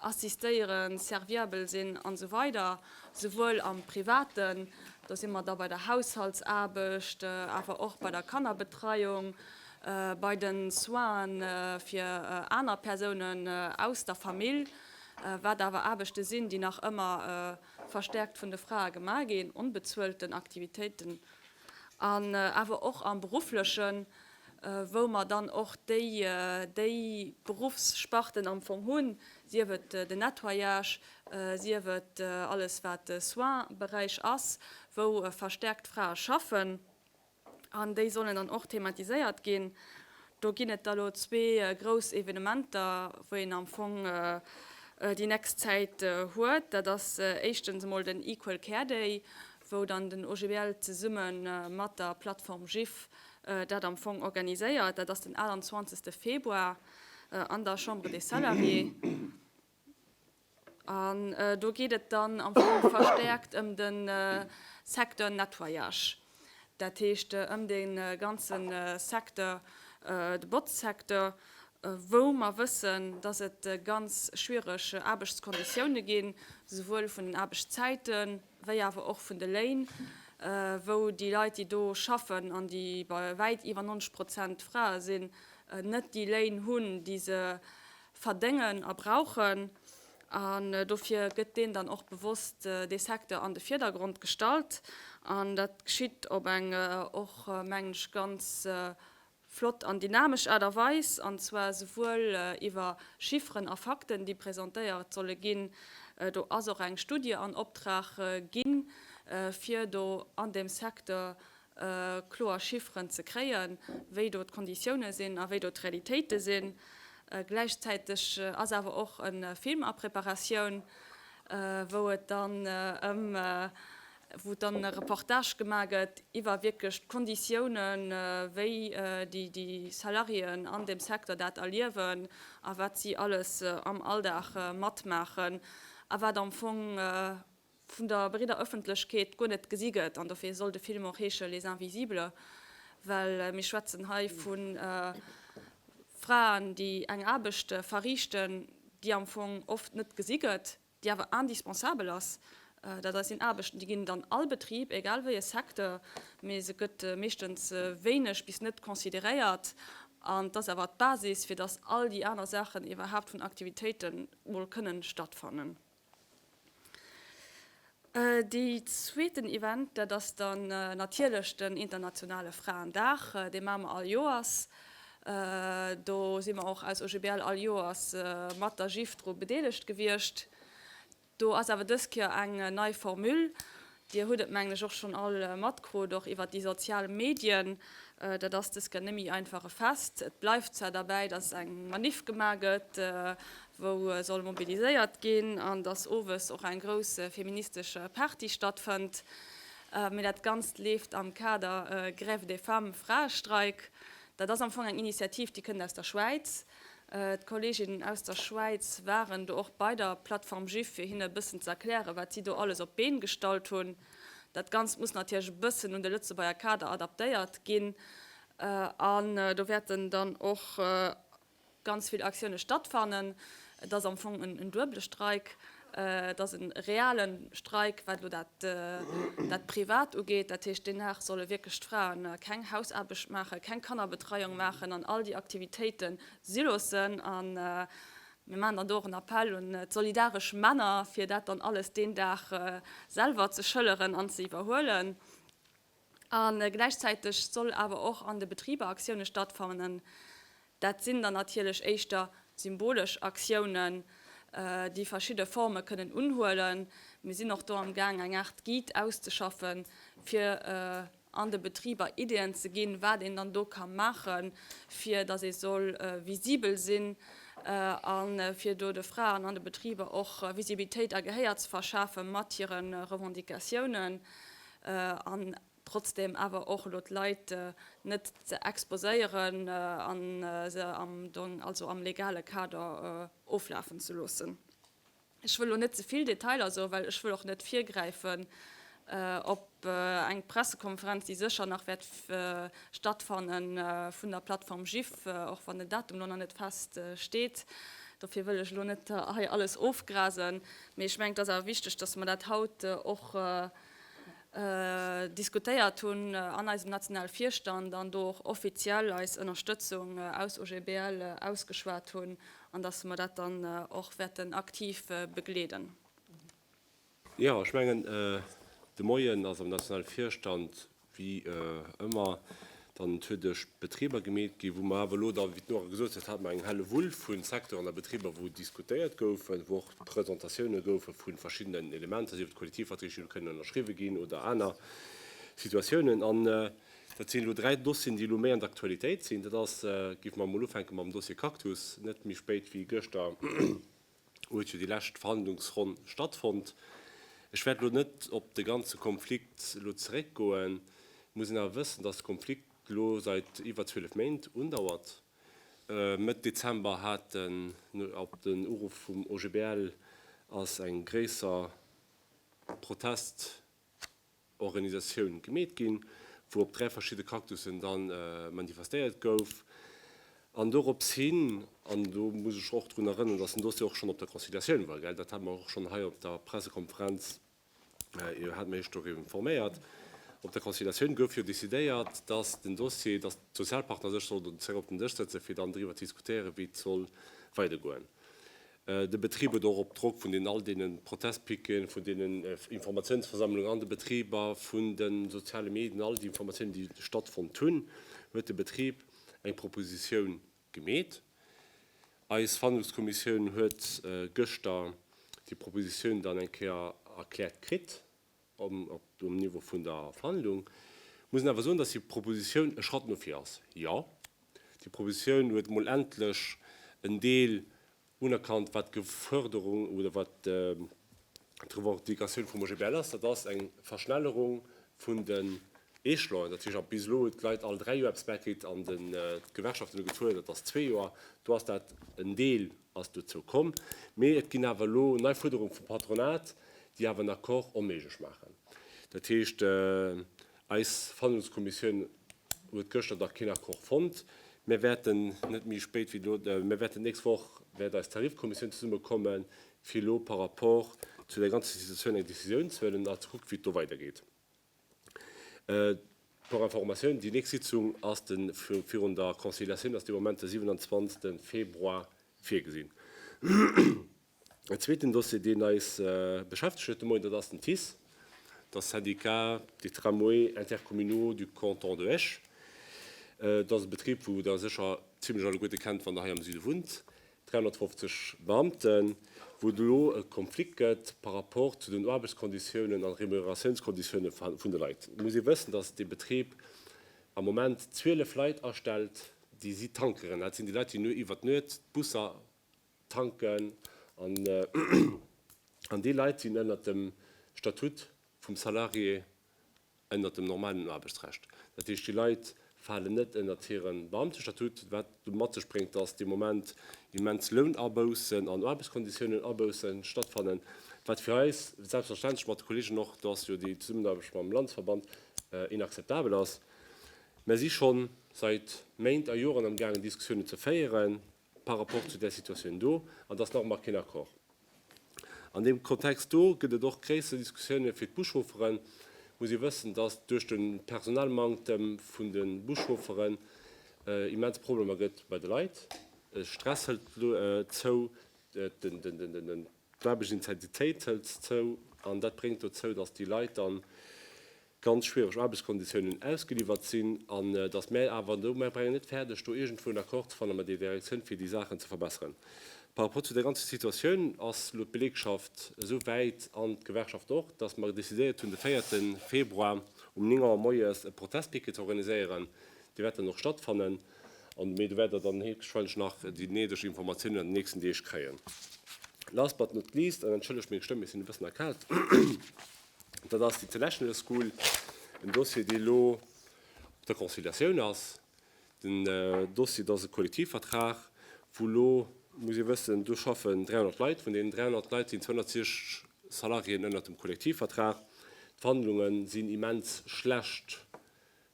[SPEAKER 3] assistéieren, serviabel sinn an esou weider souwuel am Privaten, do si mer da bei der Haushaltsaarbecht, awer och bei der Kannerbetreiung, bei de Soinen fir aner Persounen aus der Famill, wat awer Aarbechte sinn, déi nach ëmmer verstärkt vun de Frae gemaach ginn, onbezuelten Aktivitéiten an awer och am Beruflechen, wou mer dann och déi déi Beruffssparten am Fong hunn, sief et den Nettoyage, sief et alles wat de Soins-Beräich ass, wou verstärkt Frae schaffen, an déi sollen dann och thematiséiert ginn. Do ginn et der elo zwee grouss Evenementer, wou een am Fong déi nächst Zäit huet. Dat ass éischtens emol den Equal Care Day, wou dann den OGBL zesumme mat der Plattform GIF dat am Fong organiséiert. Dat ass den 28 Februar an der Chambre des Salariés. An do geet et dann am Fong verstärkt ëm de Secteur Nettoyage, dat heescht ëm dee ganze Secteur, de Botzsecteur, wou mer wëssen, dass et ganz schwierig Aarbechtskonditioune ginn, souwuel vun den Aarbechtszäiten, wéi awer och vun de Léin, wou déi Leit, déi do schaffen an déi bei wäit iwwer 90 Prozent Frae sinn, net déi Léin hunn, déi se verdéngen a brauchen. An dofir gëtt deen dann och bewosst, dee Secteur, an de Vierdergrond gestallt. An dat geschitt op eng och, mengen ech, ganz flott an dynamesch Aart a Weis, an zwar souwuel iwwer Chifferen a Fakten, déi presentéiert solle ginn, do ass och eng Studie an Optrag ginn, fir do an deem Secteur kloer Chifferen ze kréien, wéi do d'Konditiounen sinn a wéi do d'Realitéite sinn. Gläichzäiteg ass awer och e Film a Preparatioun, wou et dann ëm wou dann e Reportage gemaach gëtt iwwer wierklech d'Konditiounen, wéi déi Salariéen an deem Secteur dat erliewen a wat si alles am Alldag matmaachen a wat am Fong vun der breeder Ëffentlechkeet guer net gesi gëtt. An dofir soll de Film och heesche Les Invisibles, well mir schwätzen hei vu Fraen, déi eng Aarbecht verriichten, déi am Fong oft net gesi gëtt. déi awer indispensabel ass, dat eis sinn Aarbechten, déi ginn an all Betrib, egal wéi e Secteur, mee se gëtt meeschtens wéineg bis net consideréiert an et ass awer d'Basis, fir dass all déi aner Saachen iwwerhaapt vun Aktivitéiten emol kënnen stattfannen. De zweeten Event, dat ass dann natierlech den internationale Fraendag. Dee maache mer all Joers. Do si mer och als OGBL all Joers mat der GIF dru bedeelegt gewiescht. Do ass awer dës Kéier eng nei Formule. Dir hutt et, mengen ech, och schonn all matkrut, och iwwer déi sozial Medien. Dat ass dës Kéier net méi einfach e Fest. Et bleift zwar derbäi, dass eng Maniff gemaach gëtt, wou soll mobiliséiert ginn an dass owes och eng grouss feministesche Party stattfënnt, mee dat Ganzt leeft am Kader Grève des femmes, Fraestreik. Dat ass am Fong eng Initiativ, déi kënnt aus der Schwäiz. D'Kolleeginnen aus der Schwäiz waren do och bei der Plattform Juif, fir hinne e bëssen ze erklären, wat si do alles op d'Been gestallt hunn. Dat Ganzt muss natierlech e bëssen un de Lëtzebuerger Kader adaptéiert ginn an do wäerten dann och ganz vill Aktioune stattfannen. Et ass am Fong en duebele Streik. Et ass e reale Streik, wat elo dat Privat ugeet. Dat heescht, deen Dag solle wierklech d'Fraen keng Hausaarbecht maachen, keng Kannerbetreiung maachen an all déi Aktivitéite si loossen. A mir maachen dann do och en Appell un d'solidaresch Männer, fir dat dann alles deen Dag selwer ze schëlleren an ze iwwerhuelen. A gläichzäiteg soll awer och an de Betriber Aktioune stattfannen. Dat sinn dann natierlech éischter symbolesch Aktiounen, déi verschidde Forme kënnen unhuelen. Mir sinn och do amgaang eng Aart Guide auszeschaffen, fir an de Betriber Ideeën ze ginn, wat een dann do ka maachen, fir datt ee soll visibel sinn a fir do de Fraen an de Betriber och Visibilitéit a Gehéier ze verschafe mat hire Revendicatiounen. an trotzdem awer och elo d'Leit net ze exposéieren a se am Dong, also am legale Kader oflafen ze loossen. Ech wëll elo net ze vill Detailer soen, well ech wëll och net virgräifen op eng Pressekonferenz, déi sécher nach wäert stattfanne vun der Plattform GIF, och wann den Datum elo nach net fest steet. Dofir wëll ech elo net hei alles ofgrasen, mee ech mengen, et ass awer wichteg, dass mer dat haut och, diskutéiert hunn an eisem nationale Virstand an do och offiziell eis Ënnerstëtzung aus OGBL ausgeschwat hunn an datt mer dat dann och wäerten aktiv begleeden.
[SPEAKER 4] Jo, ech mengen, de Moien ass am nationale Virstand Wéi ëmmer, dann huet Esch Betriber gemeet ginn, wou mer awer elo da, wéi d'Nora gesot huet, hat mer eng Hellewull vu Secteuren a Betriber, wou diskutéiert gouf, wou och Presentatioune goufe vu verschiddenen Elementer, sief et Kollektivverträg, déi elo kënnen ënnerschriwwe ginn oder aner Situatiounen. An dat sinn elo dräi Dossieren, déi elo méi an der Aktualitéit sinn. Dat ass, giff mer emol ufänke mam Dossier Cactus, net méi spéit wéi gëschter, huet jo déi lescht Verhandlungsronn stattfonnt. Ech wäert elo net op de ganze Konflikt elo zeréckgoen. Et muss een awer wëssen, dass de Konflikt elo seit iwwer 12 Méint undauert. Mëtt Dezember haten, op den Uruff vum OGBL, ass eng gréisser Protest. Organisatioun gemeet ginn, wou op dräi verschidde Cactusen da manifestéiert gouf. An dorops hin, an do muss ech och drun erënneren, dass den Dossier och schonn op der Conciliatioun war, dat hat mer och schonn hei op der Pressekonferenz, Dir hat mech doriwwer informéiert, op der Conciliatioun gouf jo decidéiert, dass den Dossier, dass d'Sozialpartner sech sollten zeréck op den Dësch sëtzen, fir dann driwwer ze diskutéieren, wéi et soll weidergoen. De Betrib huet och op Drock vun all deene Protestpiqueten, vun deenen Informatiounsversammlungen an de Betriber, vun de soziale Medien, all déi Informatiounen, déi stattfonnt hunn, huet de Betrib eng Propositioun gemeet. Eis Verhandlungskommissioun huet gëschter déi Propositioun dann eng Kéier erkläert kritt. um Niveau vun der Verhandlung, muss een awer soen, dass déi Propositioun e Schratt no vir ass. Jo, déi Propositioun huet emol endlech en Deel unerkannt, wat d'Geförderung oder wat d'Revendicatioun vum OGBL ass, dat ass eng Verschnellerung vun den Échelonen. Dat heescht, bis elo huet d'Leit all dräi Joer eppes bäikritt an d'Gewerkschaften hu gezuel, dat ass zwee Joer. Do ass dat en Deel. ass dozou komm, mee et ginn awer elo nei Fuerderunge vum Patronat, déi awer en Accord onméiglech maachen. Dat heescht, eis Verhandlungskommissioun huet gëschter nach keen Accord fonnt. Mir wäerten net méi spéit wéi elo, mir wäerten d'nächst Woch wäert eis Tarifkommissioun zesummekommen, fir elo par rapport zu där ganzer Situatioun eng Decisioun ze huelen a ze kucken, wéi et do weidergeet. Pour information, déi nächst Sitzung ass de, virun der Conciliatioun, ass dee Moment de 27 Februar virgesinn. En zweeten Dossier, deen eis beschäftegt huet de Moien, dat ass den TICE, der Syndicat des Tramways Intercommunaux du Canton de Esch. Dat ass e Betrib, wou Der sécher zimlech alleguerte kennt, wann Der hei am Süde wunnt. 350 Beamten, wou et elo e Konflikt gëtt par rapport zu den Aarbechtskonditiounen an Remuneratiounskonditioune vun de Leit. Et muss ee wëssen, datt dee Betrib am Moment 12 Leit astellt, déi si Tankeren. Dat sinn déi Leit, déi no iwwer d'Nuet d'Busser tanken. An déi Leit sinn ënnert dem Statut vum Salarié. ënnert dem normalen Aarbechtsrecht. Dat heescht, déi Leit falen net ënnert hire Beamtestatut, wat mat sech bréngt, dass dee Moment immens Lounaboussen an Aarbechtskonditiounen-Aboussen stattfannen, wat fir eis, selbstverständlech mat de Kollegen och, da ass jo déi Zesummenaarbecht mam Landesverband, inakzeptabel ass. Mer si scho seit Méint a Joren amgaangen, Diskussiounen ze féieren par rapport zu där Situatioun do, an et ass nach ëmmer keen Accord. An deem Kontext do gëtt et och gréisser Diskussiounen fir d'Buschaufferen. Et muss ee wëssen, datt duerch de Personalmanktem vun de Buschaufferen immens Problemer gëtt bei de Leit. De Stress hëlt zou, d'Aarbechtsintensität hëlt zou an dat bréngt dozou, datt déi Leit dann ganz schwiereg Aarbechtskonditiounen ausgeliwwert sinn, an datt mä awer do, mä brengen net fäerdeg do iergendwou en Accord ze fanne mat der Direktioun fir déi Saachen ze verbesseren. Par rapport zu der ganzer Situatioun ass elo d'Belegschaft esou wäit, an d'Gewerkschaft och, datt mer decidéiert hunn de 4 Februar um 9 Auer moies e Protestpicket ze organiséieren. Dee wäert dann och stattfannen, an mä do wäert Der dann héchstwahrscheinlech nach déi néideg Informatiounen an den nächsten Deeg kréien. Last but not least, an entschëllegt meng Stëmm, ech sinn e bëssen erkaalt, Dat ass d'International School, en Dossier, dee lo op der Conciliatioun ass. Den Dossier, dat ass e Kollektivvertrag, wou lo, muss ee wëssen, do schaffen 300 Leit. Vun deenen 300 Leit sinn 260 Salariéen ënnert dem Kollektivvertrag. D'Verhandlunge sinn immens schlecht.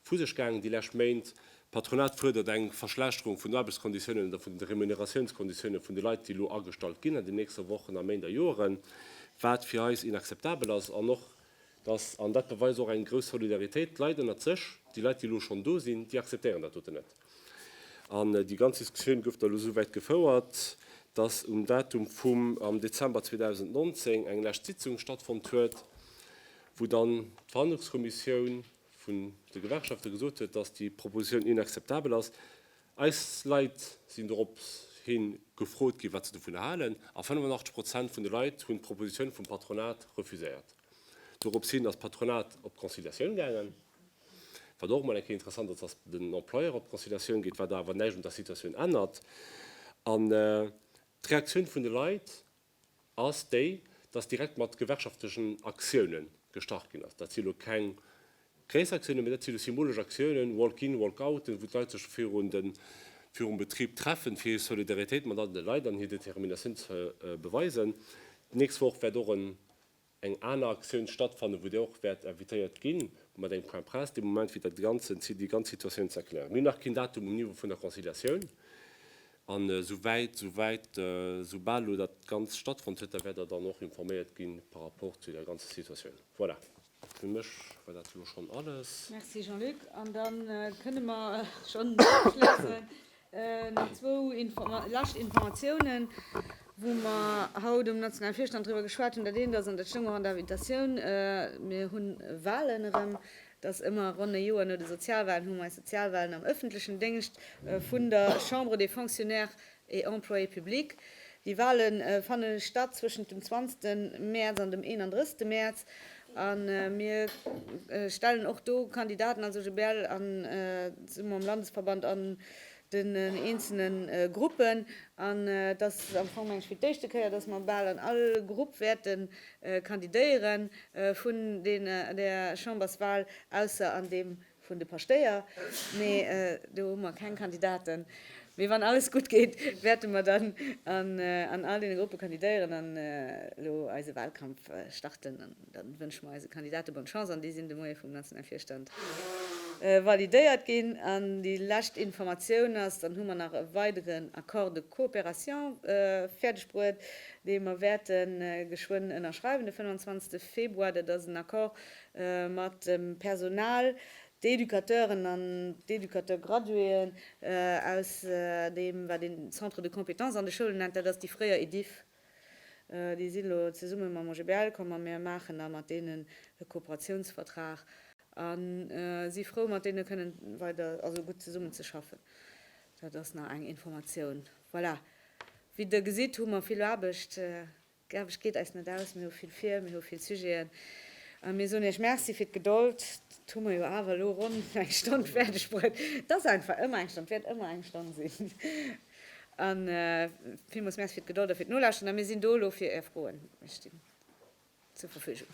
[SPEAKER 4] vu sech gaangen déi lescht Méint. D'Patronat fuerdert eng Verschlechterung vun de Aarbechtskonditiounen oder vun de Remuneratiounskonditiounen vun de Leit, déi elo agestallt ginn an den nächste Wochen a Méint a Joeren, wat fir eis inakzeptabel ass. An och datt, an dat beweist och eng grouss Solidaritéit, d'Leit ënnert sech, déi Leit, déi elo schonn do sinn, déi akzeptéieren dat doten net. An déi ganz Diskussioun gouf da elo esou wäit gefouert, datt um Datum vum am Dezember 2019 eng lescht Sitzung stattfonnt huet, wou dann d'Verhandlungskommissioun, vun de Gewerkschafte gesot huet, dass déi Propositioun inakzeptabel ass. Eis Leit sinn doropshi gefrot ginn, wat se dovunner halen, a 85 Prozent vun de Leit hunn d'Propositioun vum Patronat refuséiert. Doropshin ass d'Patronat op d'Conciliatioun gaangen, wat och emol eng Kéier interessant ass, dass den Employeur op d'Conciliatioun geet, wat awer näischt un der Situatioun ännert. An d'Reaktioun vun de Leit ass déi, dass direkt mat gewerkschaftlechen Aktioune gestart ginn ass. Dat si lo keng gréisser Aktiounen, mee dat si lo symbolesch Aktiounen, Walk-in, Walk-outen, wou d'Leit sech virum Betrib treffen, fir hir Solidaritéit mat anere Leit an hir Determinatioun ze beweisen. D'nächst Woch wäert och e eng aner Aktioun stattfannen, wou Dir och wäert invitéiert ginn, wou mer eng Point presse dee Moment fir dat Ganze, fir déi ganz Situatioun ze erklären. Mir hunn nach keen Datum um Niveau vun der Conciliatioun. An souwäit, souwäit, soubal elo dat Ganzt stattfonnt huet, da wäert Der dann och informéiert gi par rapport zu der ganzer Situatioun. Voilà, fir mech war dat elo schonn alles. Merci Jean-Luc. An
[SPEAKER 1] da kënne mer schonn ofschléissen. Nach zwou lescht Informatiounen, wou mer haut um nationale Virstand driwwer geschwat hunn. Dat eent ass, an dat stoung och an der Invitatioun, mir hu Wahlen erëm. Dass ëmmer ronn e Joer no de Sozialwahlen hu mer eis Sozialwahlen am ëffentlechen Déngscht vun der Chambre des Fonctionnaires et Employés publics. Déi Wahle fanne statt zwëschent dem 20 Mäerz an dem 31 Mäerz. A mir stellen och do Kandidaten als OGBL an zesumme mam Landesverband an den eenzele Gruppen. An et ass am Fong mengen ech fir d'éischte Kéier, datt mer bal an all Grupp wäerte kandidéiere vun där Chamberswal, ausser an deem Vun de Paschtéier. Nee, do hu mer keng Kandidaten. Mee wann alles gutt geet, wäerte mer dann an all deene Gruppe kandidéieren an elo eise Wahlkampf starten. An da wënsche mer eise Kandidate bonne Chance an déi sinn de Moie vum nationale Virstand validéiert ginn. An déi lescht Informatioun ass, dann hu mer nach e weideren Accord de coopération fäerdeg bruet, dee mer wäerte geschwënn ënnerschreiwen de 25 Februar. Dat ass en Accord, mat dem Personal, d'Educateuren an d'Educateur-graduéen aus deem, wat een Centre de compétences an de Schoulen nennt, dat ass déi fréier EDIFF, déi si lo zesumme mam OGBL komm a mir maachen da mat deenen e Kooperatiounsvertrag a si frou, mat deene kënnen weider, also gutt zesummen ze schaffen. Dat ass nach eng Informatioun. Voilà. Wéi Der gesitt, hu mer vill Aarbecht. D'Aarbecht geet eis net aus, mir hu vill vir, mir hu vill Sujeten a mir soen Iech Merci fir d'Gedold. Et hu mer jo awer elo ronn eng Stonn fäerdegbruet. Et ass einfach ëmmer eng Stonn, et wäert ëmmer eng Stonn sinn. A villmools Merci fir d'Gedold a fir d'Nolauschteren a mir sinn do elo fir Är Froen. Ech stinn zur Verfügung.